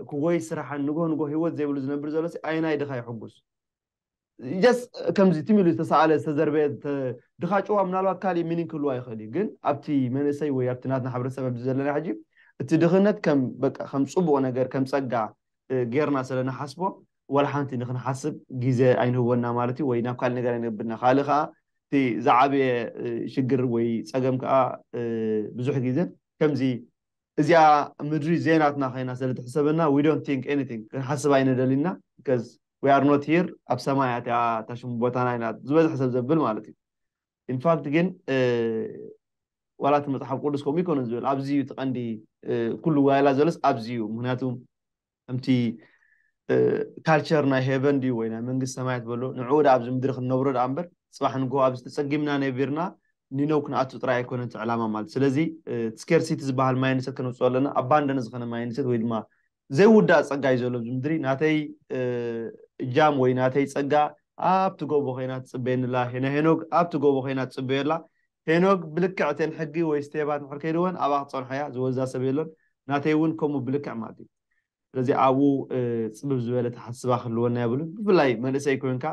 ክጎይ ስራሕን ንጎ ንጎ ህይወት ዘይብሉ ዝነብር ዘሎ ኣየናይ ድኻ ይሕጉስ ጀስ ከምዚ ትም ኢሉ ዝተሰኣለ ዝተዘርበ ድኻ ጭዋ ምናልባት ካሊእ ሚኒን ክህልዋ ይኽእል እዩ ግን ኣብቲ መንእሰይ ወይ ኣብቲ ናትና ሕብረተሰብ ኣብዚ ዘለና ሕጂ እቲ ድኽነት ከም በቃ ከም ፅቡቕ ነገር ከም ፀጋ ጌርና ስለ ንሓስቦ ዋላ ሓንቲ ንክንሓስብ ግዜ ኣይንህቦና ማለት እዩ ወይ ናብ ካልእ ነገር ኣይነብና ካልእ ከዓ እቲ ዝዓበየ ሽግር ወይ ፀገም ከዓ ብዙሕ ግዜ ከምዚ እዚኣ ምድሪ ዘይናትና ኮይና ስለ ትሕሰበና we don't think anything ክንሓስብ ኣይንደልን ኢና because we are not here ኣብ ሰማይ እያ እቲኣ እታ ሽሙ ቦታና ኢልና ዝበዝሕ ሰብ ዘብል ማለት እዩ in fact ግን ዋላ እቲ መጽሓፍ ቅዱስ ከምኡ ኣይኮነን ዝብል ኣብዚ እዩ እቲ ቀንዲ ኩሉ ዋይላ ዘሎስ ኣብዚ እዩ ምክንያቱ ከምቲ ካልቸር ናይ ሄቨን ድዩ ወይ ናይ መንግስቲ ሰማያት በሎ ንዕኡ ደኣ ኣብዚ ምድሪ ክንነብሮ ደኣ እምበር ጽባሕ ንግሆ ኣብዚ ተጸጊምና ነቢርና ኒነው ክንኣቱ ጥራይ ኣይኮነን እቲ ዕላማ ማለት ስለዚ እቲ ስኬርሲቲ ዝበሃል ማይንድሰት ከነውጽኦ ኣለና ኣባንደነ ዝኸነ ማይንድሰት ወይ ድማ ዘይውዳእ ጸጋ እዩ ዘሎ ኣብዚ ምድሪ ናተይ እጃም ወይ ናተይ ጸጋ ኣብቲ ጎቦ ኮይና ትጽበየኒ ኣላ ሄና ሄኖግ ኣብቲ ጎቦ ኮይና ትጽበዮ ኣላ ሄኖግ ብልክዕ እተን ሕጊ ወይ ስቴባት እንድሕር ከይደወን ኣብኣ ክትጸንሖ'ያ ዝወዛ ሰብ የሎን ናተይ ውን ከምኡ ብልክዕ ማለት እዩ ስለዚ ኣብኡ ጽብብ ዝበለ ኣተሓስስባ ክህልወና የብሉን ብፍላይ መንእሰይ ኮንካ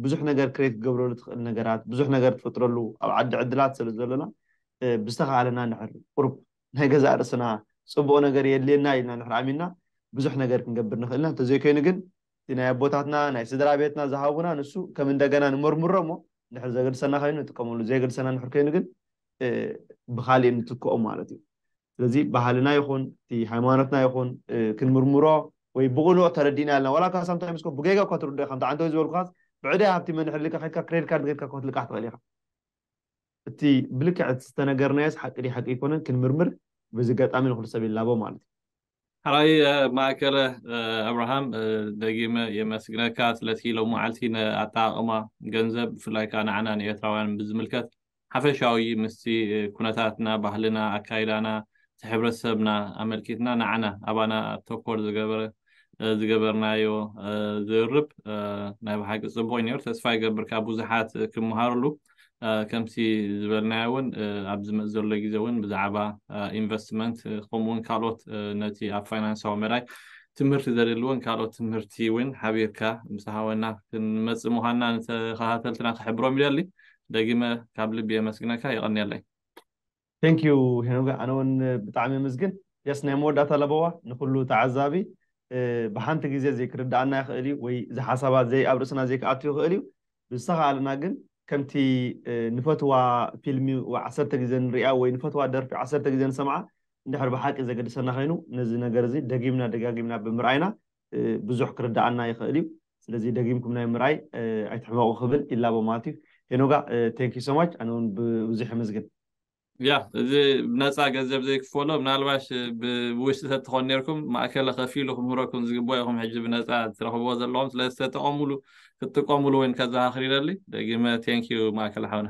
ብዙሕ ነገር ክሬት ክገብረሉ ትኽእል ነገራት ብዙሕ ነገር ትፍጥረሉ ኣብ ዓዲ ዕድላት ስለ ዘሎና ብዝተኻእለና እንድሕር ቁሩብ ናይ ገዛእ ርእስና ጽቡቕ ነገር የድልየና ኢልና እንድሕር ኣሚንና ብዙሕ ነገር ክንገብር ንኽእል ኢና እንተዘይኮይኑ ግን እቲ ናይ ኣቦታትና ናይ ስድራ ቤትና ዝሃቡና ንሱ ከም እንደገና ንመርምሮ እሞ እንድሕር ዘገድሰና ኮይኑ ንጥቀመሉ ዘይገድሰና እንድሕር ኮይኑ ግን ብኻሊእ ንትክኦ ማለት እዩ ስለዚ ባህልና ይኹን እቲ ሃይማኖትና ይኹን ክንምርምሮ ወይ ብቕኑዕ ተረዲእና ኣለና ዋላ እኳ ሳምታይምስ እኮ ብጌጋ እኳ ትርድኦ ኢኻ እንተ ዓንተወይ ዝበልኩኻስ ብዕዳይ ሃብቲ መንሕር ልካ ከድካ ክሬዲት ካርድ ገድካ እኳ ክትልቃሕ ትኽእል ኢኻ እቲ ብልክዕ ዝተነገርናዮስ ሓቂ ድዩ ሓቂ ኣይኮነን ክንምርምር በዚ ኣጋጣሚ ንኹሉ ሰብ ይላቦ ማለት እዩ ሐራይ ማእከለ ኣብርሃም ደጊመ የመስግነካ ስለቲ ሎማዓልቲ ንኣጠቃቅማ ገንዘብ ብፍላይ ከኣ ንዓና ንኤርትራውያን ብዝምልከት ሓፈሻዊ ምስቲ ኩነታትና ባህልና ኣካይዳና እቲ ሕብረተሰብና ኣመልኪትና ንዓና ኣባና ተኮር ዝገበረ ዝገበርናዮ ዝርርብ ናይ ብሓቂ ጽቡቅ እዩ ነይሩ ተስፋ ይገብር ካብ ብዙሓት ክመሃርሉ ከምቲ ዝበልናዮ እውን ኣብ ዝመፅእ ዘሎ ግዜ እውን ብዛዕባ ኢንቨስትመንት ከምኡ እውን ካልኦት ነቲ ኣብ ፋይናንሳዊ መዳይ ትምህርቲ ዘድልዎን ካልኦት ትምህርቲ እውን ሓቢርካ ምስ ሃወና ክንመፅእ ምዃንና ንተኸታተልትና ክሕብሮም ይደሊ ደጊመ ካብ ልቢ የመስግነካ የቐንየለይ Thank you ሄኖግ ኣነ ውን ብጣዕሚ የምዝግን ጀስት ናይ መወዳእታ ለበዋ ንኩሉ ተዓዛቢ ብሓንቲ ግዜ ዘይክርድኣና ይክእል እዩ ወይ እዚ ሓሳባት ዘይ ኣብ ርእስና ዘይክኣቱ ይክእል እዩ ብዝተካኣለና ግን ከምቲ ንፈትዋ ፊልሚ ዓሰርተ ግዜ ንሪኣ ወይ ንፈትዋ ደርፊ ዓሰርተ ግዜ ንሰምዓ እንድሕር ብሓቂ ዘገድሰና ኮይኑ ነዚ ነገር እዚ ደጊምና ደጋጊምና ብምርኣይና ብዙሕ ክርደኣና ይኽእል እዩ ስለዚ ደጊምኩም ናይ ምርኣይ ኣይትሕመቑ ክብል ይላቦ ማለት እዩ ሄኖጋ ቴንክ ዩ ሶማች ኣነ እውን ብብዙሕ የመስግን ያ እዚ ብነፃ ገንዘብ ዘይክፈሎ ምናልባሽ ብውሽጢ ተትኾን ነርኩም ማእከለ ከፊሉ ክምህረኩም ዝግበኦ ኢኹም ሕጂ ብነፃ ትረኽብዎ ዘለኹም ስለዚ ተጠቐሙሉ ክትጥቀሙሉ ወይን ከዘኻኽር ይደሊ ደጊመ ቴንክ ዩ ማእከለ ሓውና